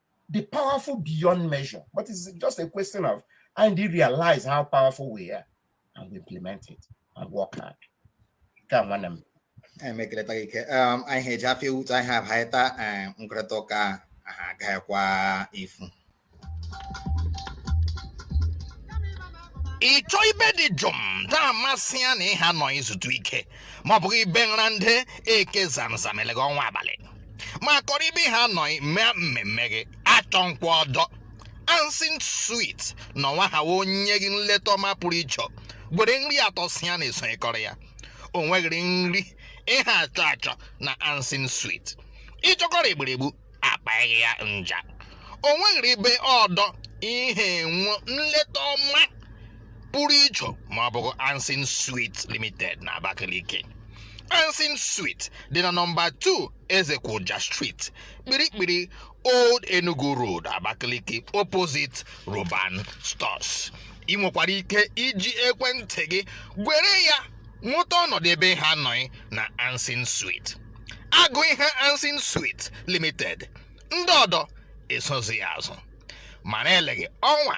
dị powerful beyond measure. But it's just a question of anyị realize how powerful we are and we implement it and work hard. Come on. Um, um, I had Jaffe Woods, I have Haita and um, m karatụ ọka gakwa ifu. ị chọọ ibe dị jụụ na-amasị ya na ịha nọ izutu ike ma ọ bụghị ibe nra ndị eke zamzam gị ọnwa abalị ma kọrọ ibe ha nọ mee mmemme gị achọnkwa ọdọ Ansin Suite na ọnwa ha wee onye gị nleta ọma pụrụ iche gwere nri atọ si ya na-esonyekọrọ ya o nweghịrị nri ịha achọ achọ na Ansin Suite ịchọkọrọ egburegbu akpaghị ya nja o nweghịrị ibe ọdọ ịha enwe nleta ọma pụrụ iche ma ọ bụghị Ansin Suite Limited na Abakaliki Ansin Suite dị na nọmba 2 Ezekwoja Street Kpirikpiri Old Enugu Road Abakaliki opposite Roban Stores ị nwekwara ike iji ekwentị gị gwere ya nweta ọnọdụ ebe ha anọghị na Ansin Suite agụ ihe Ansin Suite Limited ndị ọdọ esozi ya azụ ma na-eleghị ọnwa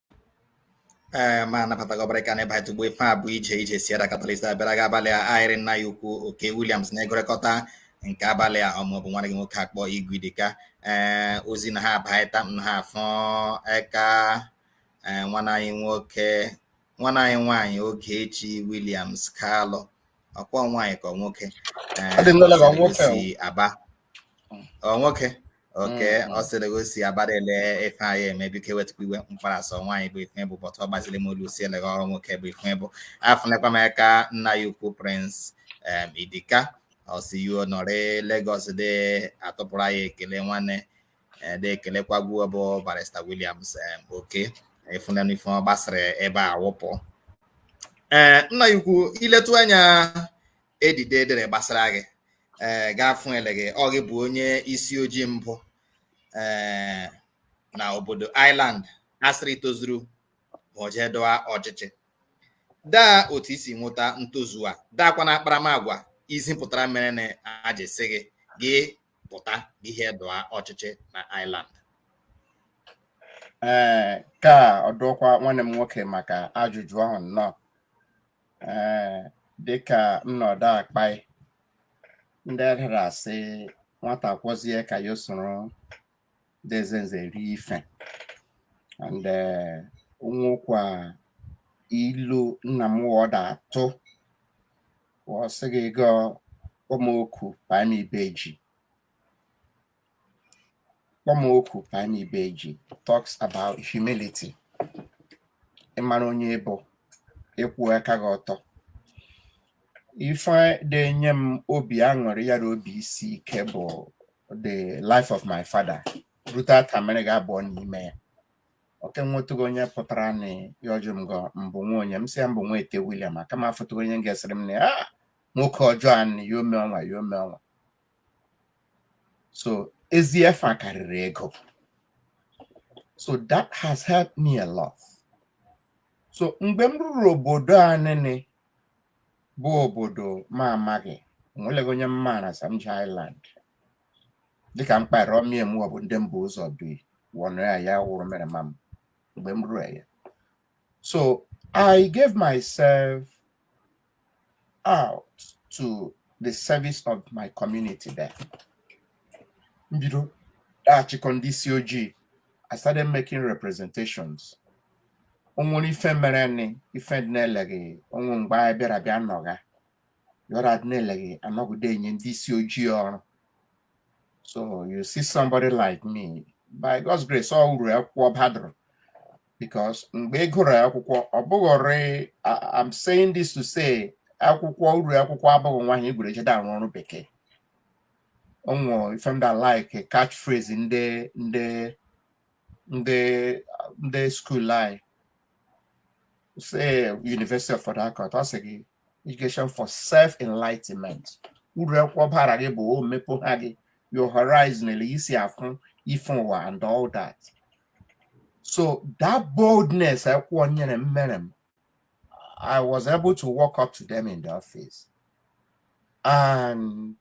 ee ma anabata gị ọbara ka na ịbata ugbo ife a bụ ije ije si ada Catalyst abịara gị abalị a ayị rị nna anyị ukwu Okey Williams na-egwurikọta nke abalị a ọ mụ bụ nwanne gị nwoke akpọ Igwe Idika ee ozi na ha abaịta m na ha afụ eka ee nwanne anyị nwoke nwanne anyị nwaanyị Ogechi Williams Kalụ ọkwa nwaanyị ka nwoke si Aba ọ nwoke okay ọ sị eleghị o si Aba de ele ife anyị eme biko ewetụkwa iwe m kpara sị ọ nwaanyị bụ ife bụ but ọ gbaziri m olu sị eleghị ọ bụ nwoke bụ ife bụ afụnekwa m aka nna anyị ukwu Prince Idika ọ sị ya nọrị Lagos de atụpụrụ anyị ekele nwanne eh, de ekelekwa gị bụ Barrister Williams eh, Okey ị fụnanụ ife ọ gbasara ebe a wụpụ ee eh, nna anyị ukwu i letụ anya edide e dere gbasara gị ee ga-afụ eleghị ọ gị bụ onye isi ojii mbụ ee na obodo Ireland a sịrị tozuru ma o jee dọa ọchịchị daa otu i si nweta ntozu a daakwa na akparamagwa i zipụtara mere na a je sị gị gị pụta ihe dọa ọchịchị na Ireland ee eh, kaa ọdọkwa nwanne m nwoke maka ajụjụ ahụ nnọọ ee eh, dịka nnọdụ akpai ndị edere asị nwata kwọzie aka ya soro nde eze nze rie ife and eh, nwekwa ilu nna m wọ da atụ wọ sị gị gụọ kpọ m oku paị m ibe ji kpọ m oku paị m ibe ji talks about humility ịmara onye ị bụ ịkwụ aka gị ọtọ ife de enye m obi aṅụrị ya na obi isi ike bụ the life of my father ruta taa m merega abụọ n'ime ya o ke nwetụghị onye pụtara na ya ọjụ m gọ m bụ nwa onye m sị ya m bụ nwa ete William aka m afụtụghị onye m ga-asịrị m na ya "Ah, nwoke ọjọọ a nị ya ome ọnwa ya ome ọnwa so ezi afa karịrị ego so that has helped me a lot so mgbe m ruru obodo a nịnị bụ obodo m amaghị onweleghị onye m maara Sam Island dịka m kpara ọmịa m ọ bụ ndị mbụ ụzọ bi wọnụ ya ya wụrụ mere ma m mgbe m rue ya so i gave myself out to the service of my community there m bido da-achịkọ ndị isi ojii i started making representations onwere ife mere nị ife dị nị eleghị ọ wụ mgbe anyị bịara bịa nọga ya ọ da-adị nị eleghị anọghị de-enye ndị isi ojii ọrụ so you see somebody like me by God's grace ọ uru akwụkwọ badụrụ because mgbe ị gụrụ akwụkwọ ọ bụghịrị I'm saying this to say akwụkwọ uru akwụkwọ abụghị naanị ị gụrụ je de arụ ọrụ bekee onwe ife ndị like catch phrase ndị ndị ndị ndị school anyị say University of Port Harcourt ọ sị gị education for self enlightenment uru akwụkwọ bara gị bụ o mepụha gị your horizon ele i si afụ ife ụwa and all that so that boldness akwụkwọ nyere m mere m I was able to walk up to them in the office and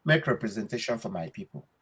make representation for my people.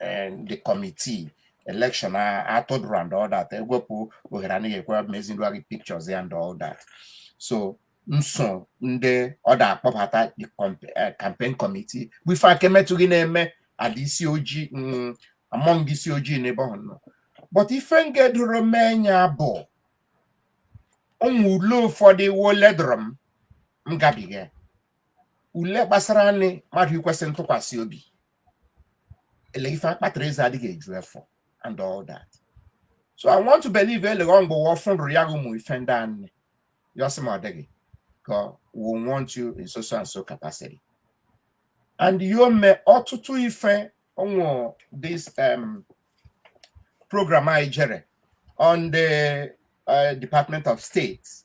and the committee election atụdụrụ and all that ewepụ ohere nị aka m ezidụrụ gị pictures and all that so m so ndị ọ da-akpọbata the eh, campaign committee bụ ife a ka emetụghị n'ime ndị isi ojii mm, among ndị isi ojii n'ebe ọ nọ but ife ngedoro m anya bụ ụmụ ule ụfọdụ wo ledụrụ m m gabiga ule gbasara nị mmadụ ikwesị ntụkwasị obi eleghị ife akpatara eze adịghị eju efọ and all that so i want to believe eleghị ọ mgbe wa fụrụ ya ụmụ ife ndị anị ya ọ sị m ọ dịghị ka we want you in so so and so capacity and yo me ọtụtụ ife ọ wụ this um, program anyị jere on the uh, department of state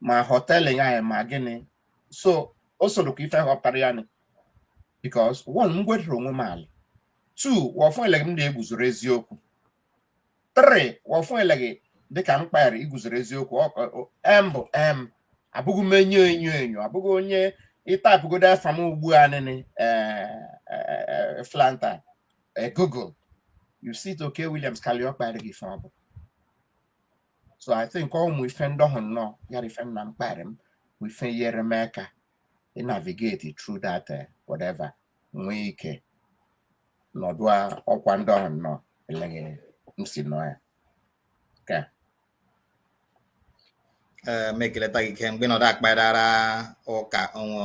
ma hotel ya ma gịnị so o sorokwa ife họpụtara ya nị because one m gwedịrị onwe m alị two wọ fụ eleghị m da-eguzoro eziokwu three wọ fụ eleghị dịka m kpara iguzoro eziokwu m bụ m abụghị m onye enyo enyo abụghị onye ị type godu afa m ugbu a nịnị flanta google you see it Okey Williams Kalu ọ kpara gị ife ọ bụ so i think ọ ụmụ ife ndị ọhụ nọ ya ife nna m kparị m bụ ife yere m aka ị navigate through that uh, whatever nwee ike nọdụ ọkwa ndị ọhụ nọ eleghị m si nọ ya ka eh, mekeleta gị ike mgbe nọdụ akparara ụka onwe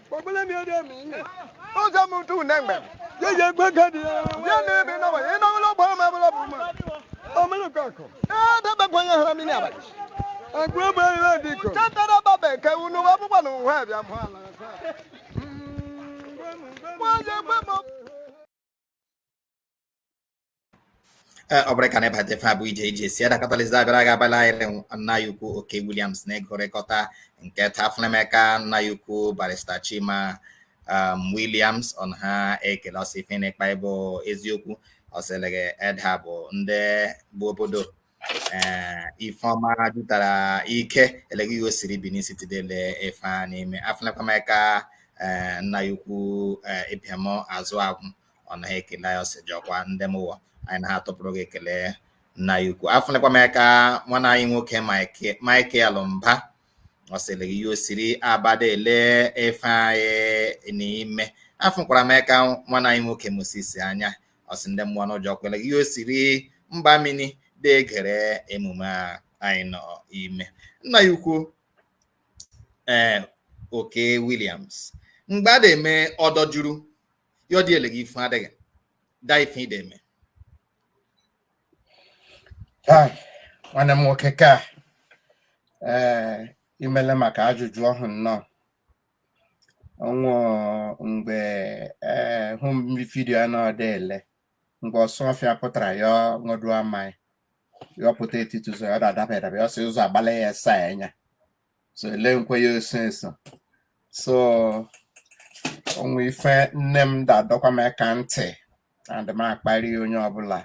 Ogbele mi ode mi. O ja mu tu ne ngbe. Ye ye gbe ka di. Ye ne bi na wa. Ye na lo bo ma bo lo bu ma. O me lo ka ko. E da ba gwa ya hara mi ni abali. Agbo ba ra di ko. Cha ta da ba be ke unu wa bu kwa nu wa bi amu ala. Wa je gbe mo. Eh, ọ bụrụ ka na ịbata ife a bụ JJC Edda Catalyst abịara gị abalị anyị nna ya ukwu Okey Williams na-egorịkọta nke taa afụle m aka nna ya ukwu barista Chima um, Williams ọ na ha ekele ọ sị ife ị na-ekpa bụ eziokwu ọ sị eleghị Edda bụ ndị bụ obodo ee Ifeọma jụtara ike eleghị ya o siri Benin City da-ele ife a nọ ime afụlekwa m aka ee nna ya ukwu ee Ibiam Azụ Agwụ ọ na ha ekele ya ọ sị jọkwa ndị m ụwa anyị na ha tụpụrụ gị ekele nna ya ukwu afụlekwa m aka nwanne anyị nwoke Michael Mba ọ sị eleghị ya o siri Aba da-ele ife anyị nọ ime afụkwara m aka nwanne anyị nwoke Moses Anya ọ sị ndị m ụwa ụnụ jọkwa eleghị ya o siri mba mini da-egere emume a anyị nọ ime nna ya ukwu ee Okey Williams mgbe a na-eme ọdọ juru ya ọ dị eleghị ife adịghị da ife ị da-eme nwanne m nwoke ka ee imele maka ajụjụ ọhụ nọ ọ nwe mgbe ee home video a nọ da-ele mgbe Osuofia pụtara ya ṅụdụa maị ya ọ pụta etiti ụzọ ya ọ da-adaba adaba ya ọ sị ụzọ agbala ya esa ya anya so ele nkwe ya eso eso so ọ nwe ife nne m da-adọkwa m aka ntị and m akparị onye ọbụla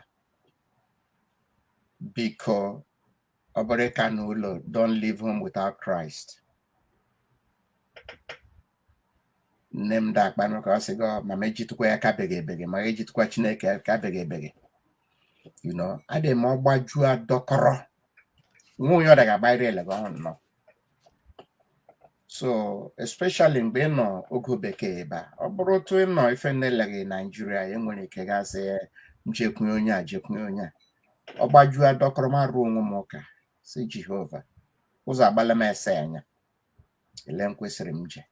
biko ọ bụrụ ka n'ụlọ don't leave home without Christ nne m da-akpanụ ụka ọ sị gị "Ọ, mama ejitụkwa ya ka beghị ebeghị ma ejitụkwa Chineke ya ka beghị ebeghị you know adị m ọgbajuo adọkọrọ nwa onye ọ daga agbaịrị eleghị ọhụ nọ so especially mgbe ị nọ ogo bekee ebe a ọ bụrụ otu ị nọ ife na-eleghị Nigeria e nwere ike gasị m jekwunye onye a jekwunye onye a ọ gbajuo adọkọrọ m arụ onwe m ụka sị Jehova ụzọ agbala m ese anya ele m kwesịrị m je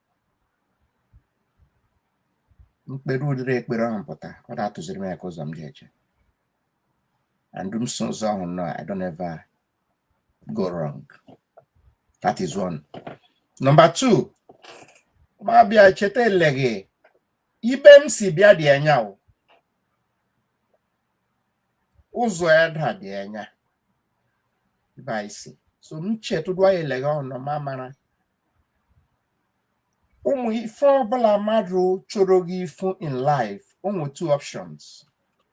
mkpere ụdịrị ekpere ahụ pụta ọ da-atụziri m eka ụzọ m ji eje and m so ụzọ ahụ nọ I don't ever go wrong. That is one. Number two, ma bịa cheta eleghị ibe m si bịa dị anya o ụzọ Edda dị anya ibe anyị si so m chetụdụ anyị eleghị ọnụ ma mara ụmụ ife ọbụla mmadụ chọrọ gị ifu in life ọ wụ two options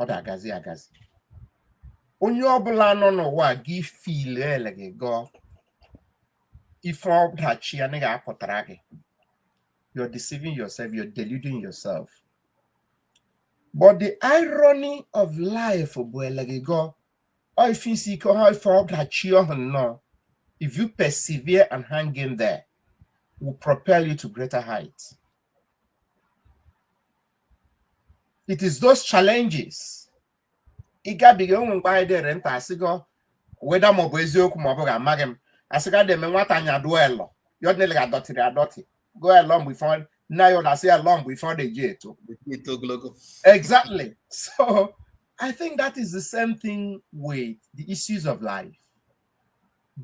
ọ da-agazi agazi onye ọbụla nọ n'ụwa gị feel eleghị gọọ ife ọdachi anaghị apụtara gị you're deceiving yourself you're deluding yourself but the irony of life bụ eleghị gọọ ọ ife isi ike ha ife ọdachi ọhụ nnọọ if you persevere and hang in there will propel you to greater heights it is those challenges ị gabiga ụmụ mgbe anyị dere nta asịgo weda maọbụ eziokwu maọbụ ga amaghị m asịga deme nwata anya dụọ elọ ya ọdịnele ga adọtịrị adọtị go elọ mgbe ife nna ya ọ da-asị elọ mgbe ife ọ de-eji eto exactly so i think that is the same thing with the issues of life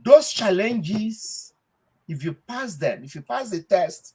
those challenges if you pass them if you pass the test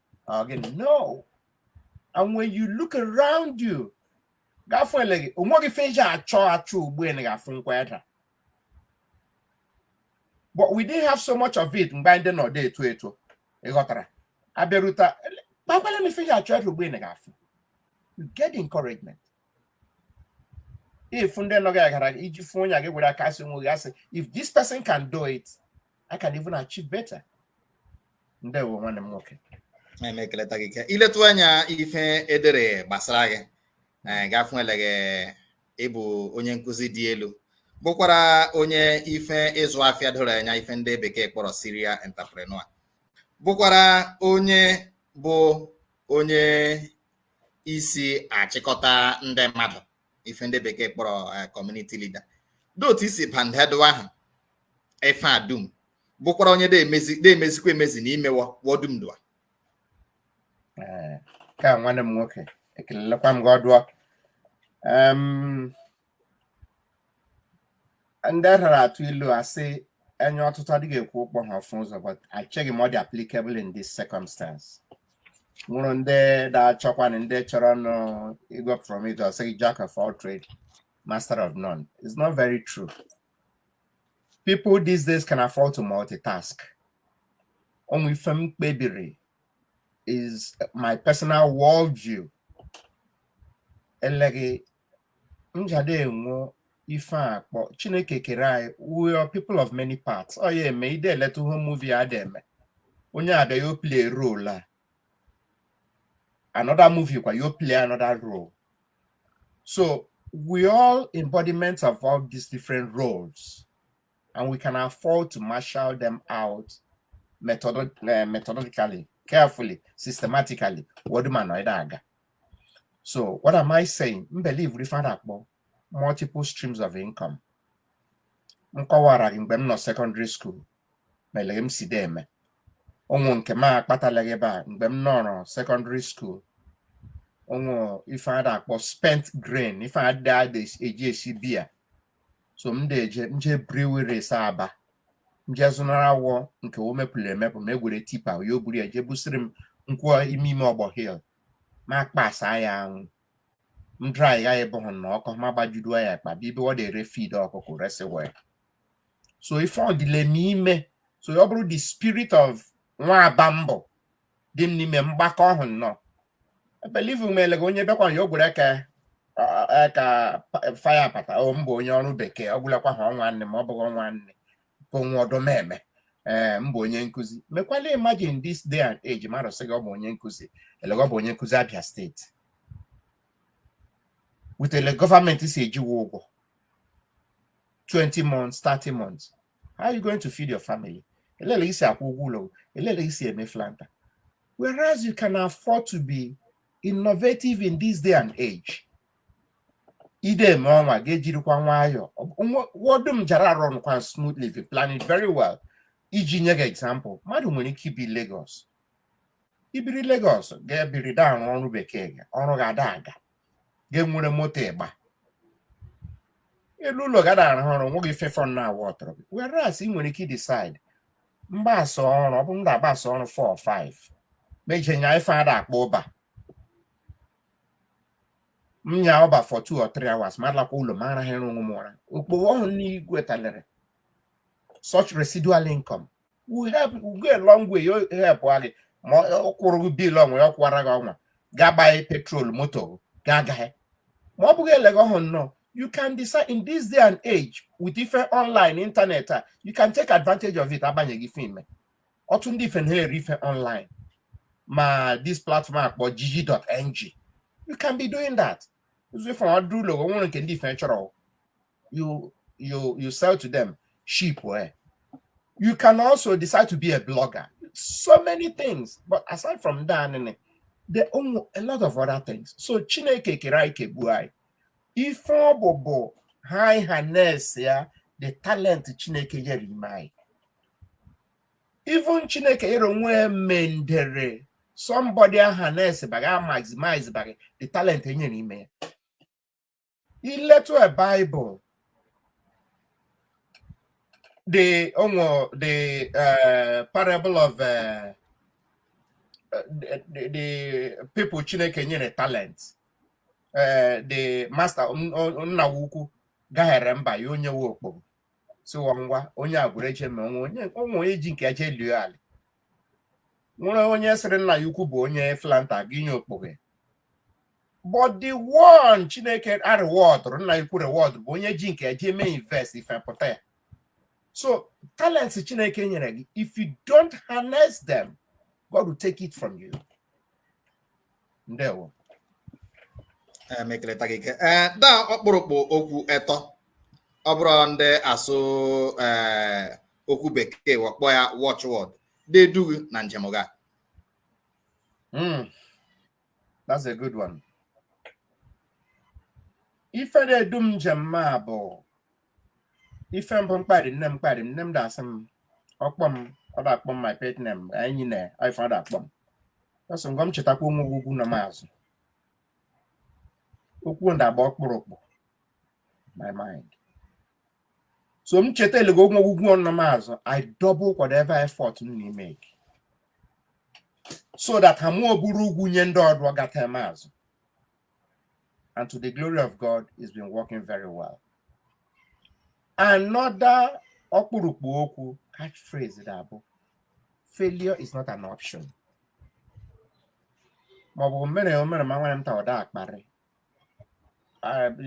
ọ gị no and when you look around you gafụ eleghị o nweghị ife iji achọ achọ ugbu a ga-afụ nkwa Edda but we didn't have so much of it mgbe anyị dị nọ de-eto eto ị ghọtara abịaruta kpakwala m ife iji achọ Edda ugbu a ga-afụ you get encouragement if ndị nọ gị gara iji fụ onye gị were aka asị nwe gị asị if this person can do it I can even achieve better. Ndewo nwanne m nwoke. Ana ekeleta gị ka ị letụ anya ife e dere gbasara gị eh, gafụ eleghị ị bụ onye nkụzi dị elu bụkwara onye ife ịzụ afịa doro anya ife ndị bekee kpọrọ serial entrepreneur bụkwara onye bụ onye isi achịkọta ndị mmadụ ife ndị bekee kpọrọ eh, community leader dị otu ị si bandedụ ahụ ife a dum bụkwara onye de-emezikwa emezi n'ime wọ dum dụa eh, ka nwanne m nwoke ekelelekwa m gị ọdụọ nde dara atụ ilu asị enya ọtụtụ adịghị ekwe ụkpọ ha ọfụ ụzọ but acheghị m ọ dị applicable in this circumstance ọ wụrụ nde da-achọkwa na ndị chọrọ nụ igwe from it a sị gị jack of all trade master of none it's not very true people these days can afford to multitask o nwe ife m kpebiri is my personal worldview eleghị njade enwe ife a kpọ chineke kere anyị we are people of many parts ọ ya eme ide eleta home movie a da eme onye abịa yo play role a another movie kwa yo play another role so we all embodiments of all these different roles and we can afford to marshal them out methodologically carefully systematically wọ dum anọ ịda aga So what am I saying? M believe ife ada akpọ multiple streams of income. M kọwara gị mgbe m nọ secondary school elega m si de eme ọ wụ nke m akpatalaghị ebe a mgbe m nọrọ secondary school ọ wụ ife ada akpọ spent grain ife ada eji esi biya so m da-eje m je breweries aba m je zụnara wọ nke wọ mepụrụ emepụ ma egwere tipa ya o buru ya jee busiri m nkwụ ime ime ọgbọ hill ma kpasa ya anwụ m dry ya ebe ahụ na ọ kọọ ma gbajudo ya akpa bịa ebe wọ da ere feed ọkụkụ resi wọ so ife ọ dịle m ime so ọ bụrụ the spirit of nwa aba m bụ dị m n'ime m gbakọọ ọhụ nnọọ ebelieve m elega onye bịakwa ya o gwere ka ka faya apata o m bụ onye ọrụ bekee ọ gwụlakwa ha ọnwa nne ma ọ bụghị ọnwa nne o nwe ọdọ m eme ee m bụ onye nkụzi mekwala imagine this day and age mmadụ sị gị ọ bụ onye nkụzi elega ọ bụ onye nkụzi Abia state wetele government si eji wọ ụgwọ 20 months 30 months how are you going to feed your family elele i si akwụ ụgwọ ụlọ elele i si eme flanta whereas you can afford to be innovative in this day and age ide eme ọnwa gị ejirikwa nwayọọ wọ dum jara a-run kwa smoothly if you plan it very well iji nye gị example mmadụ nwere ike ibi Lagos i biri Lagos gị ebiri da arụ ọrụ bekee gị ọrụ gị ada aga gị enwere moto ị gbala ụlọ gị ada arahụ ụra nwoghị ife ọ na-ewetara gị whereas ị nwere ike decide m gbasa ọrụ ọ bụ m da agbasa ọrụ 4 or 5 m eje nya ife ada akpọ uber m nya uber for 2 or 3 hours ma alakwa ụlọ ma arahụrụ onwe m ụra okpogho ọhụ m na-egwetalere such residual income will help will go a long way ị help wa gị ma ọ kwụrụ gị bill ọnwa ya ọ kwụwara gị ọnwa ga-agbanye petrol moto ga-agaghị ma ọ bụghị elego ọhụ nnọọ you can decide in this day and age with ife online internet a you can take advantage of it abanye gị ife ime otu ndị ife na-ere ife online ma this platform a kpọ jiji.ng you can be doing that zụ ife ọdụ ụlọ nwere nke ndị ife chọrọ you you you sell to them ship ya you can also decide to be a blogger so many things but aside from that there are a lot of other things so chineke kere anyị kegbuo anyị ife ọ bụ bụ ha harness ya the talent chineke nyere ime anyị even chineke nyere onwe mendere somebody a-harness baga maximize baga the talent enyere ime ya i letụ a Bible the onwe the uh, parable of uh, the, the people Chineke nyere talent uh, the master nna ukwu gahere mba ya e nye we okpoghe sị wa ngwa onye agwụrụ eche ma o nwe onye ji nke ya je lie ala nwere onye sịrị nna ya ukwu bụ onye flanta gị nye okpoghe but the one chineke a reward nna ukwu reward bụ onye ji nke ya je me invest ife pụta ya so talents chineke nyere gị if you don't harness them god will take it from you ndewo m ekeleta gị ike ee da ọkpụrụkpụ okwu etọ ọ bụrụ ndị asụ ee okwu bekee wa akpọ ya watchword da-edu gị na njem gị a That's a good one. Ife da-edu m njem m a bụ ife mbụ mkparị nne m mkparị nne m da-asị m ọ kpọ m ọ da-akpọ m my pet name anyị na ife ọ da-akpọ m ọ sị Ngọ m chetakwa onwe gị ugwu nọ m azụ okwu da-agba ọkpụrụkpụ my mind so m cheta elego ugwu ugwu ọ nọ m azụ i double whatever effort m na-emeke so that ha mụọ bụrụ ugwu nye ndị ọdọ gata m azụ and to the glory of god it's been working very well another ọkpụrụkpụ okwu catchphrase da-abụ failure is not an option maọbụ mere omere ma nwere m ta ọ da-akparị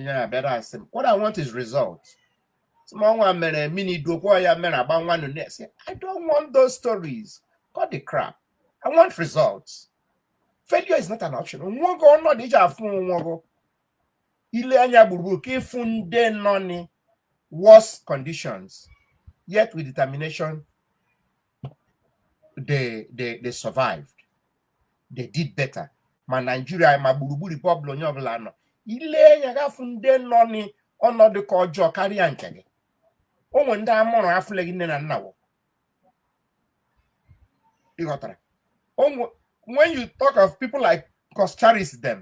ya bịara asị m what I want is results ma ọnwa mere mini dokwa ya mere agba nwa nụ na-esi I don't want those stories cut the crap I want results failure is not an option onweghị ọnọdụ iji afụ onwe gị ile anya gburugburu ka ịfụ ndị nọ ni worse conditions yet with determination they, they, they survived. They did better. ma naijiria ma gburugburu ebe ọbụla onye ọbụla nọ ile anya ga-afụ ndị nọ n'ọnọdụ ka ọjọọ karịa nke gị o nwe ndị amụrụ afụlegị nne na nna wo ịghọtara when you talk of people like Coscharis them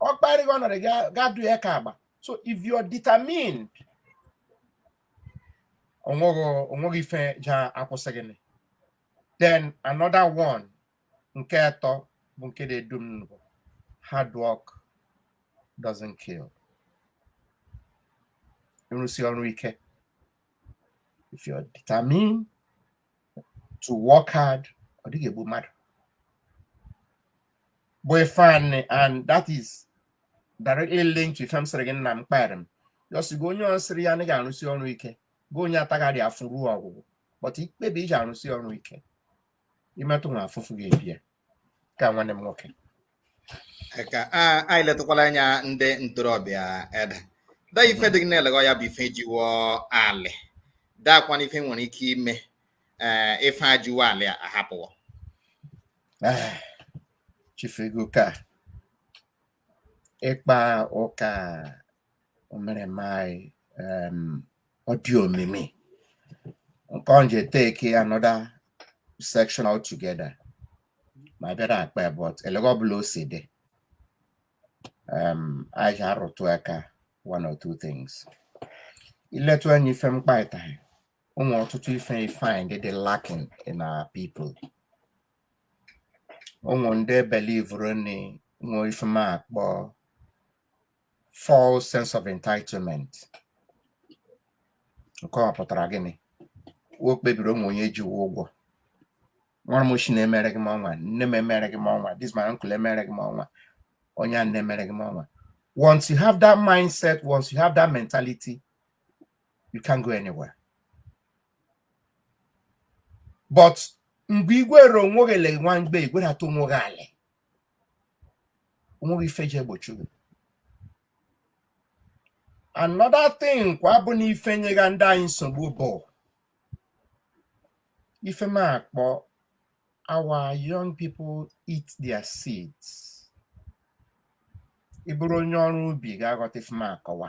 ọ kparị gị ọnọdụ ga-adụ ya ka agba so if you are determined onweghị onweghị ife ja-akwụsị gị nị. then another one nke atọ bụ nke na-edu m bụ hard work doesn't kill ịrụsi ọrụ ike if you're determined to work hard ọ dịghị egbu mmadụ bụ ife anị and that is directly linked to ife m sịrị gị nna m kpaịrị m yọsigo onye sịrị ya anaghị arụsi ọrụ ike gị onye atagharị afụfụ ruo ọgwụgwụ but ikpebi iji arụsi ọrụ ike imetụ nwa afụfụ gị ebie ka nwanne m nwoke ka a- anyị letụkwala anya ndị ntorobịa Edda ife dị gị na-elegọ ya bụ ife ji wo alị dakwana ife nwere ike ime ee ife ji wo alị ahapụ wo Ah, Chief Eguka ịkpa ụka omereme anyị em, ọ dị omimi nke ọ nje take another section altogether ma bịara akpa ya, but elega ọbụla o si dị em, anyị ja-arụtụ aka one or two things iletụ anya ife m kpaịtaghị o nwe ọtụtụ ife find dị lacking in our people o nwe ndị belivuru ni nwe ife m akpọ false sense of entitlement nke ọ pụtara gịnị wo kpebiri o nwe onye ji wo ụgwọ nwa m ochi na-emereghị m ọnwa nne m emereghị m ọnwa this my uncle emereghị m ọnwa onye anị emereghị m ọnwa once you have that mindset once you have that mentality you can't go anywhere but mgbe i gwere onwe gị le nwa mgbe i gwedata onwe gị alị o nweghị ife ji egbochi gị another thing kwa bụ na ife nyega ndị anyị nsogbu bụ ife m akpọ our young people eat their seeds ị bụrụ onye ọrụ ubi ga-aghọta ife m akọwa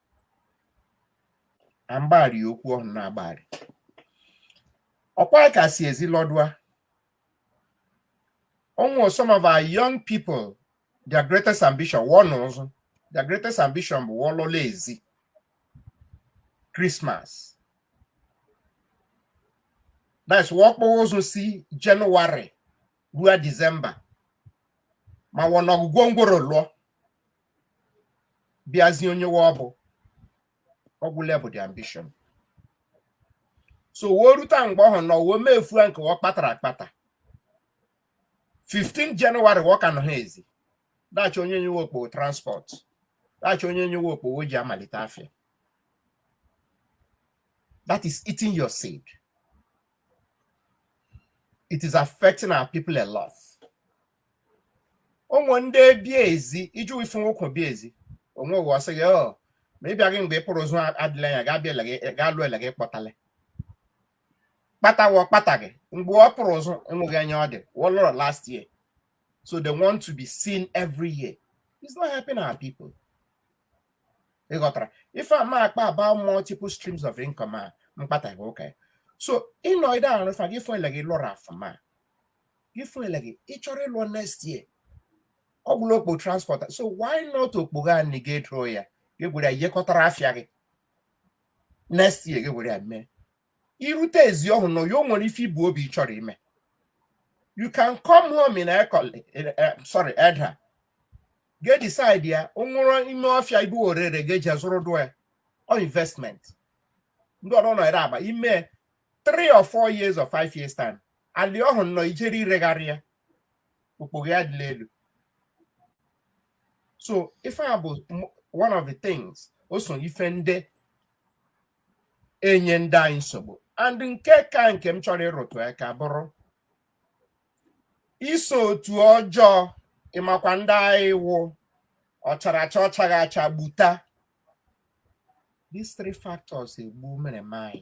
na mgbaghara ya okwu ọhụrụ na-agbaghara ọkwa ka si ezi lọdụa ọnwụ some of our young people their greatest ambition wo nọ ụzụ their greatest ambition bụ wo lọla ezi Christmas that's wa kpọ ụzụ si January ruo December ma wọ na ọgwụgwọ ngworo lụọ bịazie onye wa bụ ọ gwụla bụ their ambition so wo rute mgbe ọhụ nọ wo mefua nke wo kpatara akpata 15 January wo ka nọ ha ezi da-achọ onye nye wo okpogho transport da-achọ onye nye wo okpogho ji amalite afịa that is eating your seed it is affecting our people a lot ụmụ ndị bi ezi iji ifu nwoke bi ezi onwe ụwa ọsị gị ọ ma ị bịaghị mgbe ị pụrụ ụzụ adịla anya gaa bịa ele gị gaa lụọ ele gị kpọtala kpata wa kpataghị mgbe wo pụrụ ụzụ enweghị anya ọ dị wo lọrọ last year so they want to be seen every year it's not helping our people ị ghọtara ife m akpa about multiple streams of income a mkpata gị ụka ya so ịnọ ide ahụ rụfa gị fọ ele gị lụrụ afụma ifuele gị ị chọrọ ịlụọ next year ọ gwụla okpo transport so why not okpogho anị gị edoro ya gị gwere ya yekọtara afịa gị next year gị gwere ya mee i rute ezi ọhụ nọ ya o nwere ife i bu obi ị chọrọ ime you can come home in Ekoli sorry Edda gị decide ya o nwere ime ọfịa ibu orere gị eji azụrụ dụ ya or investment ndị ọdọ nọ ere agba ime three or four years or five years time alị ọhụ nnọọ i jere iregharị ya okpogho ya dịla elu so ife a bụ one of the things o so ife ndị enye ndị anyị nsogbu and nke ka nke m chọrọ ịrụtụ aka bụrụ iso otu ọjọọ ị makwa ndị anyị wụ ọchara acha ọchaghị acha gbuta these three factors egbu mere m anyị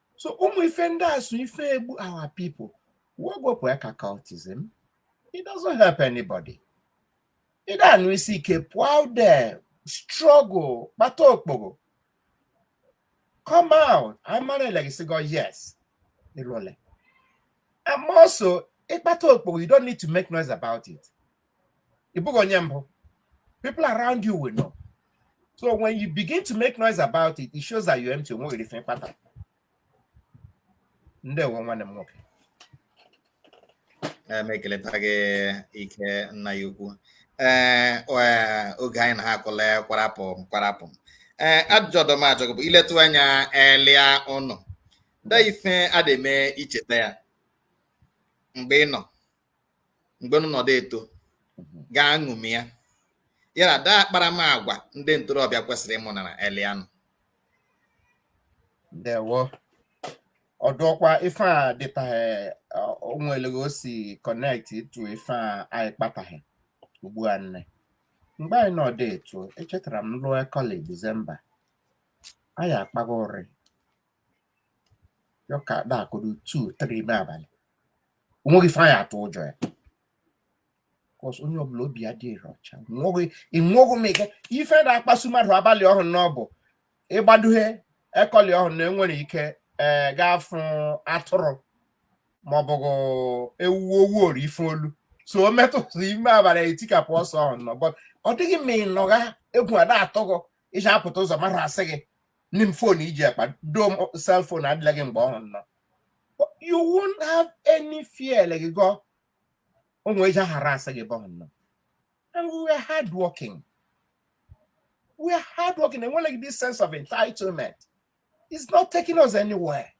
so ụmụ ife ndị a so ife egbu our people wepụ aka cultism it doesn't help anybody ị da-anụ isi ike pụọ out there struggle kpata okpogo come out a mara elegi i si go yes ị lụle and also ị kpata okpogo you don't need to make noise about it ị bụghị onye mbụ people around you will know so when you begin to make noise about it it shows that you're empty onweghị ife ị kpata ndewo nwanne m nwoke eh, m ekeleta gị ike nna anyị ukwu ee eh, eh, oge anyị na ha akụla kwarapụ kwarapụ ee ajụjụ ọdọ m ajụ gị bụ ị letụ anya elianụ da ife a da-eme ị cheta ya mgbe unu mgbe unu nọdụ eto mhm. gaa ṅụmi ya ya na da akparamagwa ndị ntorobịa kwesịrị ịmụnara elianụ ndewo ọ dụkwa ife a dịtahe o nwe elegi o si connect to ife a anyị kpatahe ugbu a nne mgbe anyị nọdụ eto echetara m luo ekoli Disemba anyị akpaga ụrị ya ka da-akụrụ two three ime abalị onweghị ife anyị atụ ụjọ ya cos onye ọbụla obi ya dịrị ọcha ịnwụghị m ike ife da-akpasu mmadụ abalị ọhụ nụ bụ ị gbaduhe ekoli ọhụ na enwere ike ee gaafụ atụrụ maọbụ ewu owu ori ife olu so o metụtụ ime abalị etikapụ ọsọ ọhụ nụ but ọ dịghị ma ị nọgha egwu a da-atụ gị i ji apụta ụzọ mmadụ asị gị ni m phone i ji akpa doo m cell phone adịlaghị mgbe ọhụ nụ you won't have any fear like gị gọ ụmụ eji ahara asa gị mgbe ọhụ nụ and we were hard working we are hard working and we like this sense of entitlement it's not taking us anywhere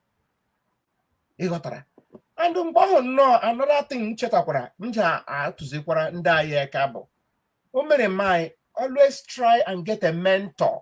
ị ghọtara and mgbe ọhụ nụ another thing m chetakwara m ji atụzikwara ndị anyị aka bụ o mere m anyị always try and get a mentor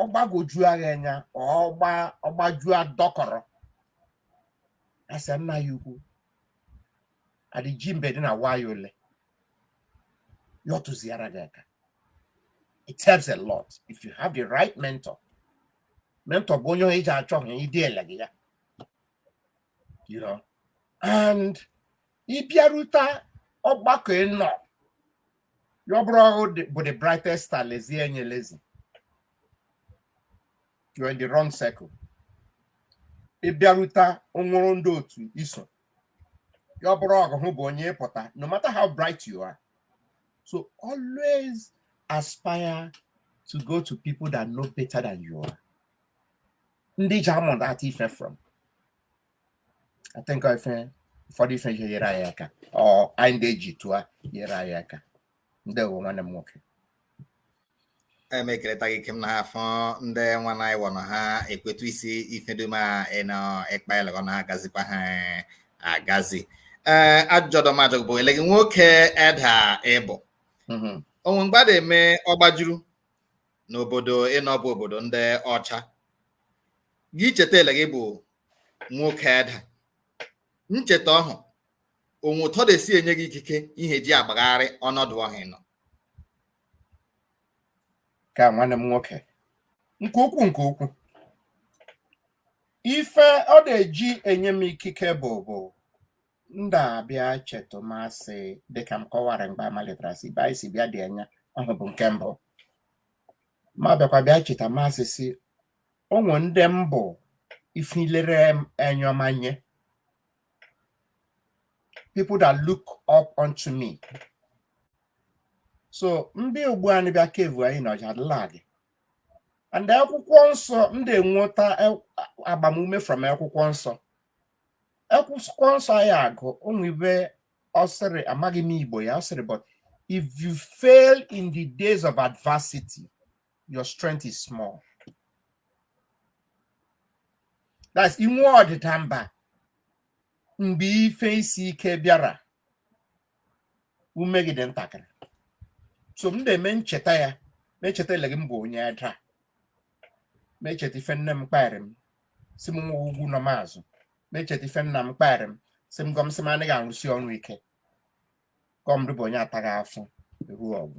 ọ gbagwojua gị anya ọ gba ọ gbajua dọkọrọ a sị nna ya ukwu adịji mbe dị na wayo ole ya ọ tụziara gị aka it helps a lot if you have the right mentor mentor bụ onye onye i ji achọgha ịdị elegi ya you know and ị bịarute ọgbakọ ị nọ ọ bụrụ ọ ghụ bụ the brightest star lezie enya lezie you're in the wrong circle ị bịarute o nwere ndị otu i so ọ bụrụ ọ ghụ bụ onye pụta no matter how bright you are so always aspire to go to people that know better than you are ndị ji amụta ife from I think I think ụfọdụ ife ihe nyere anyị aka or anyị ndị eji tụọ nyere anyị aka ndewo nwanne m nwoke em ekeleta gị kem na ha afọ ndị nwa na anyị wọnọ ha ekwetu isi ife dum a ị nọ ịkpa ele gị na ha agazikwa ha eh, agazi ee ajụjụ ọdọ m ajụ bụ ele gị nwoke Edda ị bụ Mhm. o nwe mgbe ọ da-eme ọ gbajuru n'obodo ị nọ bụ obodo ndị ọcha gị cheta ele gị bụ nwoke Edda ncheta ọhụ o nwe etu ọ de-esi enye gị ikike ihe ji agbagharị ọnọdụ ọhụ ị nọ kaa nwanne m nwoke nke ukwu nke ukwu ife ọ na-eji enye m ikike bụ bụ m da-abịa cheta ma sị dịka m kọwara mgbe a malitara sị ibe anyị si bịa dị anya ọhụ bụ nke mbụ m abịakwa bịa cheta ma sị sị o nwe ndị m bụ ife ilere enyomanye people that look up unto me so ndị ugbu a bịa kevu anyị na ọ ja-adịla gị and akwụkwọ nsọ m de-enweta e- agbamume from akwụkwọ nsọ akwụkwọ nsọ anyị agụ o nwe ibe ọ sịrị amaghị m Igbo ya ọ sịrị but if you fail in the days of adversity your strength is small that's i nwee ọdịda mba mgbe ife isi ike bịara ume gị dị ntakịrị so m na-eme ncheta ya m echeta ele gị m bụ onye Edda m echeta ife nne m kpaịrị m sị m nwa ugwu nọ m azụ m echeta ife nna m kpaịrị m sị m gọ m sị m anaghị arụsi ọrụ ike gọmdụ bụ onye ataghị afọ ruo ọgwụ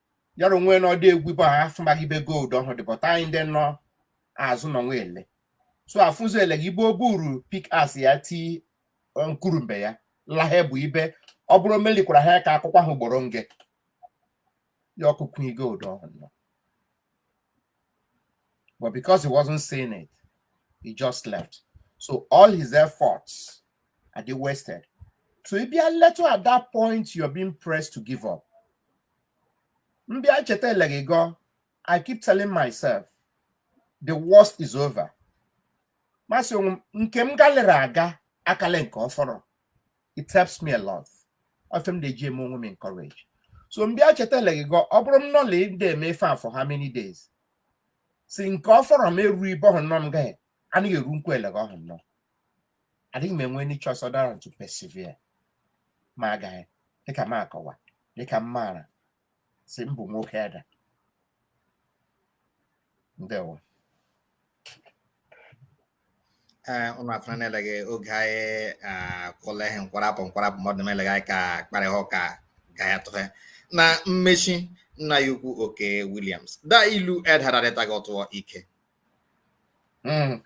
yara onwe na ọ de-egwu bụ afụmaghị ibe gold ọhụ dị but anyị ndị nọ azụ nọ nwa ele so afụzi ele gị ibe o buru pick axe ya ti nkurumbe ya lahe bụ ibe ọ bụrụ melikwara ha ka ọ kụkwaa ha ugboro nge ya akụkunye gold ọhụ but because he wasn't seeing it he just left so all his efforts adị wasted so ị bịa letụ at that point you're being pressed to give up m bịa cheta eleghị gọ i keep telling myself the worst is over m asị onwe m nke m galere aga akala nke ọfọrọ it helps me a lot ọ ife m da-eji eme onwe m encourage so m bịa cheta eleghị gọ ọ bụrụ m nọla da-eme ife a for how many days si nke ọfọrọ m eru ibe ọhụ nnọọ m gaghị anaghị eru nkwa eleghe ọhụ nnọọ adịghị m enwe choice other than to persevere ma agaghị dịka m akọwa dịka m maara si mbụ nwoke Edda ndewo ee ụlọ afọ na-eleghị oge anyị kwụla ihe nkwarapụ nkwarapụ mmadụ na-eleghị anyị ka kparịa ụka ga ya tụ ife na mmechi nna anyị ukwu Okey Williams da ilu Edda da-adịtaghị ọtụọ ike Hmm.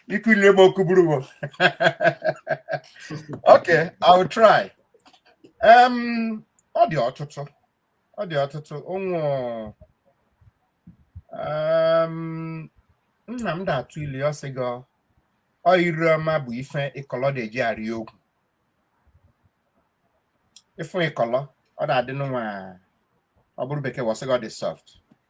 Ikuli m okwu buru ibu. Okay, I will try. Um, ọ dị ọtụtụ. Ọ dị ọtụtụ. Ụmụ um, nna m da-atụ ilu ọ sị gọ ire ọma bụ ife ịkọlọ da-eji arị ogwu. Ị fụ ịkọlọ, ọ da-adị n'ụwa ọ bụrụ bekee wọ asị gọ ọ dị soft.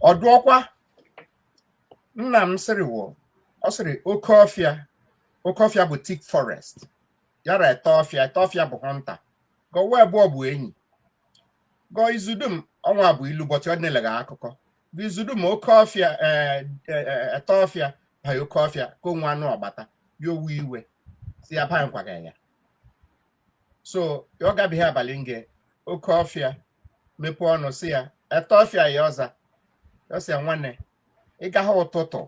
ọ dụọkwa nna m sịrị wụ ọ sịrị oke ọfịa oke ọfịa bụ thick forest ya ra ete ọfịa ete ọfịa bụ hunter gọ wa abụọ bụ enyi gọ izu dum ọnwa bụ ilu but ọ n'eleghe akụkọ gọ izu dum oke ọfịa ete ọfịa ba oke ọfịa ka o nwee anụ ọ gbata ya o we iwe sị ya ba nkwaga ya so ọ gabeghị abalị nge oke ọfịa mepee ọnụ sị ya ete ọfịa ya ọ za ọ sị ya nwanne ị gaghị ụtụtụ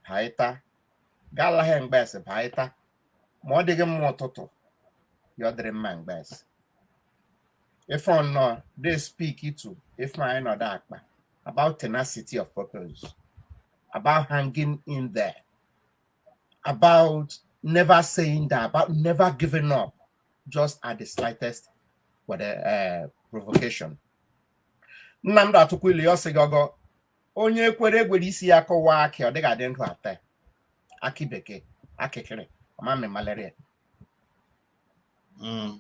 ba ịta galaghị mgbes ba ịta ma ọ dịghị mma ụtụtụ ya ọ dịrị mma mgbes ife ọnọ dey speak to ife anyị nọdụ akpa about tenacity of purpose about hanging in there about never saying that, about never giving up, just at the slightest uh, provocation. Nna m da-atụkwa ilu ọ sị gọ onye kwere e gwere isi ya kụwaa akị ọ dịghị adị ndụ ata akị bekee akịkịrị ọmamị malaria mm.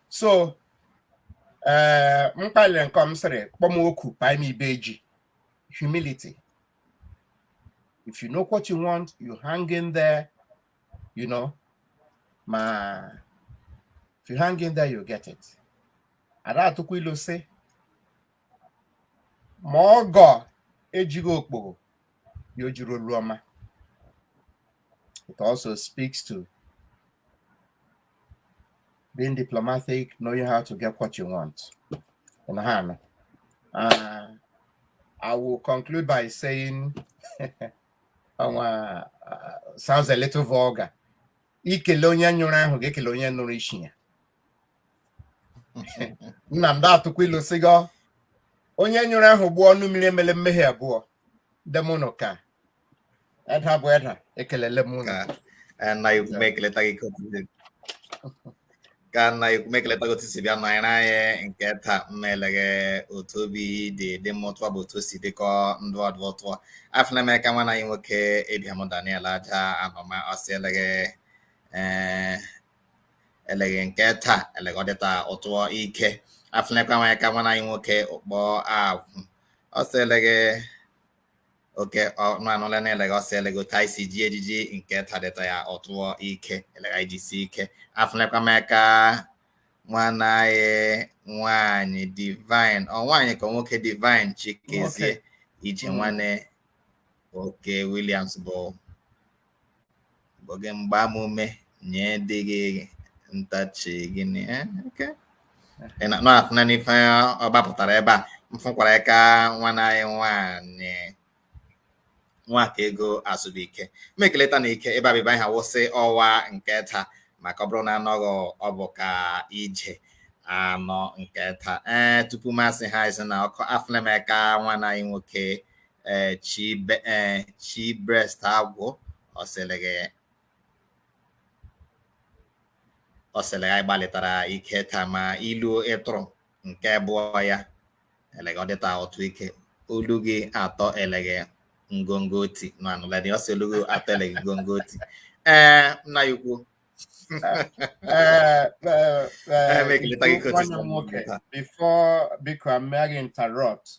so eh, mkpaliri nke m sịrị kpọm oku kpaa m ibe eji humility if you know what you want you hang in there you know ma if you hang in there you get it a da-atụkwa ilu sị ma ọgọ ejighị okpogho ya o jiri olu ọma it also speaks to being diplomatic, knowing how to get what you want. In hand. Uh, I will conclude by saying, um, uh, sounds a little vulgar. I kelee onye nyụrụ ahụ ga-ekele onye nụrụ isi ya. Nna m dị atụkwa ilu sịgo onye nyụrụ ahụ gbụọ ọnụ mmiri emele mmehie abụọ deme unu kaa Edda bụ Edda, ekelele m unu. kaa nna anyị ukwu m ekeleta gị ka otu si- kaa nna anyị ukwu m ekeleta gị otu i si bịa nọnyere anyị nke taa m na eleghe otu obi dị dị m ụtọ bụ otu o si dịkọ ndị ọdọ ụtọ afụne m aka nwanna anyị nwoke Ibiam Daniel Aja Anọma ọ sị eleghe ee eleghe nke taa eleghe ọ dịta ụtọ ike afụnekwa m aka nwanna anyị nwoke Ukpo Agwụ ọ sị eleghe oke ọnụ anụla na eleghe ọ sị eleghe otu anyị si ji ejiji nke taa dịta ya ụtọ ike eleghe anyị jisi ike afụnekwa m aka nwanna anyị nwanyị Divine ọ nwaanyị ka nwoke Divine Chikezie ije nwanne oke Williams bụ oge mgbamume nye dị gị ntachi gị na ya oke ị na na-afụ na n'ife ọ gbapụtara ebe a m fụkwara aka nwanna anyị nwaanyị Nwakaego Azụbụike m ekeleta na ike ebe abịba ha wụsị ọwa nke taa maka ọ bụrụ na anọghị ọ bụ ka ị je anọ nke taa ee tupu m asị ha zina ọkụ afụla m aka nwanna anyị nwoke ee eh, chi be ee eh, chi breast Agwụ ọ sị eleghe ọ sị eleghe anyị gbalịtara ike taa ma ilu ị tụrụ nke abụọ ya eleghe ọ dịta ụtọ ike olu gị atọ eleghe ngongo oti na anụladị ọ sị olu gị atọ eleghe ngongo oti ee eh, nna anyị ukwu Eh, eh, eh, before biko I may interrupt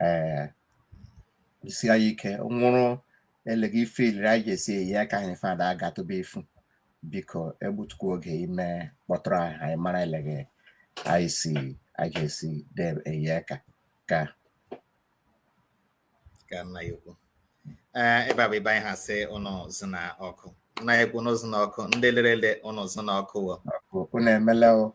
ee isi anyị ike nwụrụ eleghe ife iliri anyị ga-esi eye aka ife Edda a ga-atụba efu biko egbutukwa oge ime kpọtụrụ anyị anyị mara eleghe anyị si anyị ga-esi dee eye aka kaa kaa nna anyị ukwu ee ebe a bụ ebe anyị ha sị unu zina ọkụ nna anyị ukwu unu zina ọkụ ndị lere ele unu zina ọkụ wo unu emela o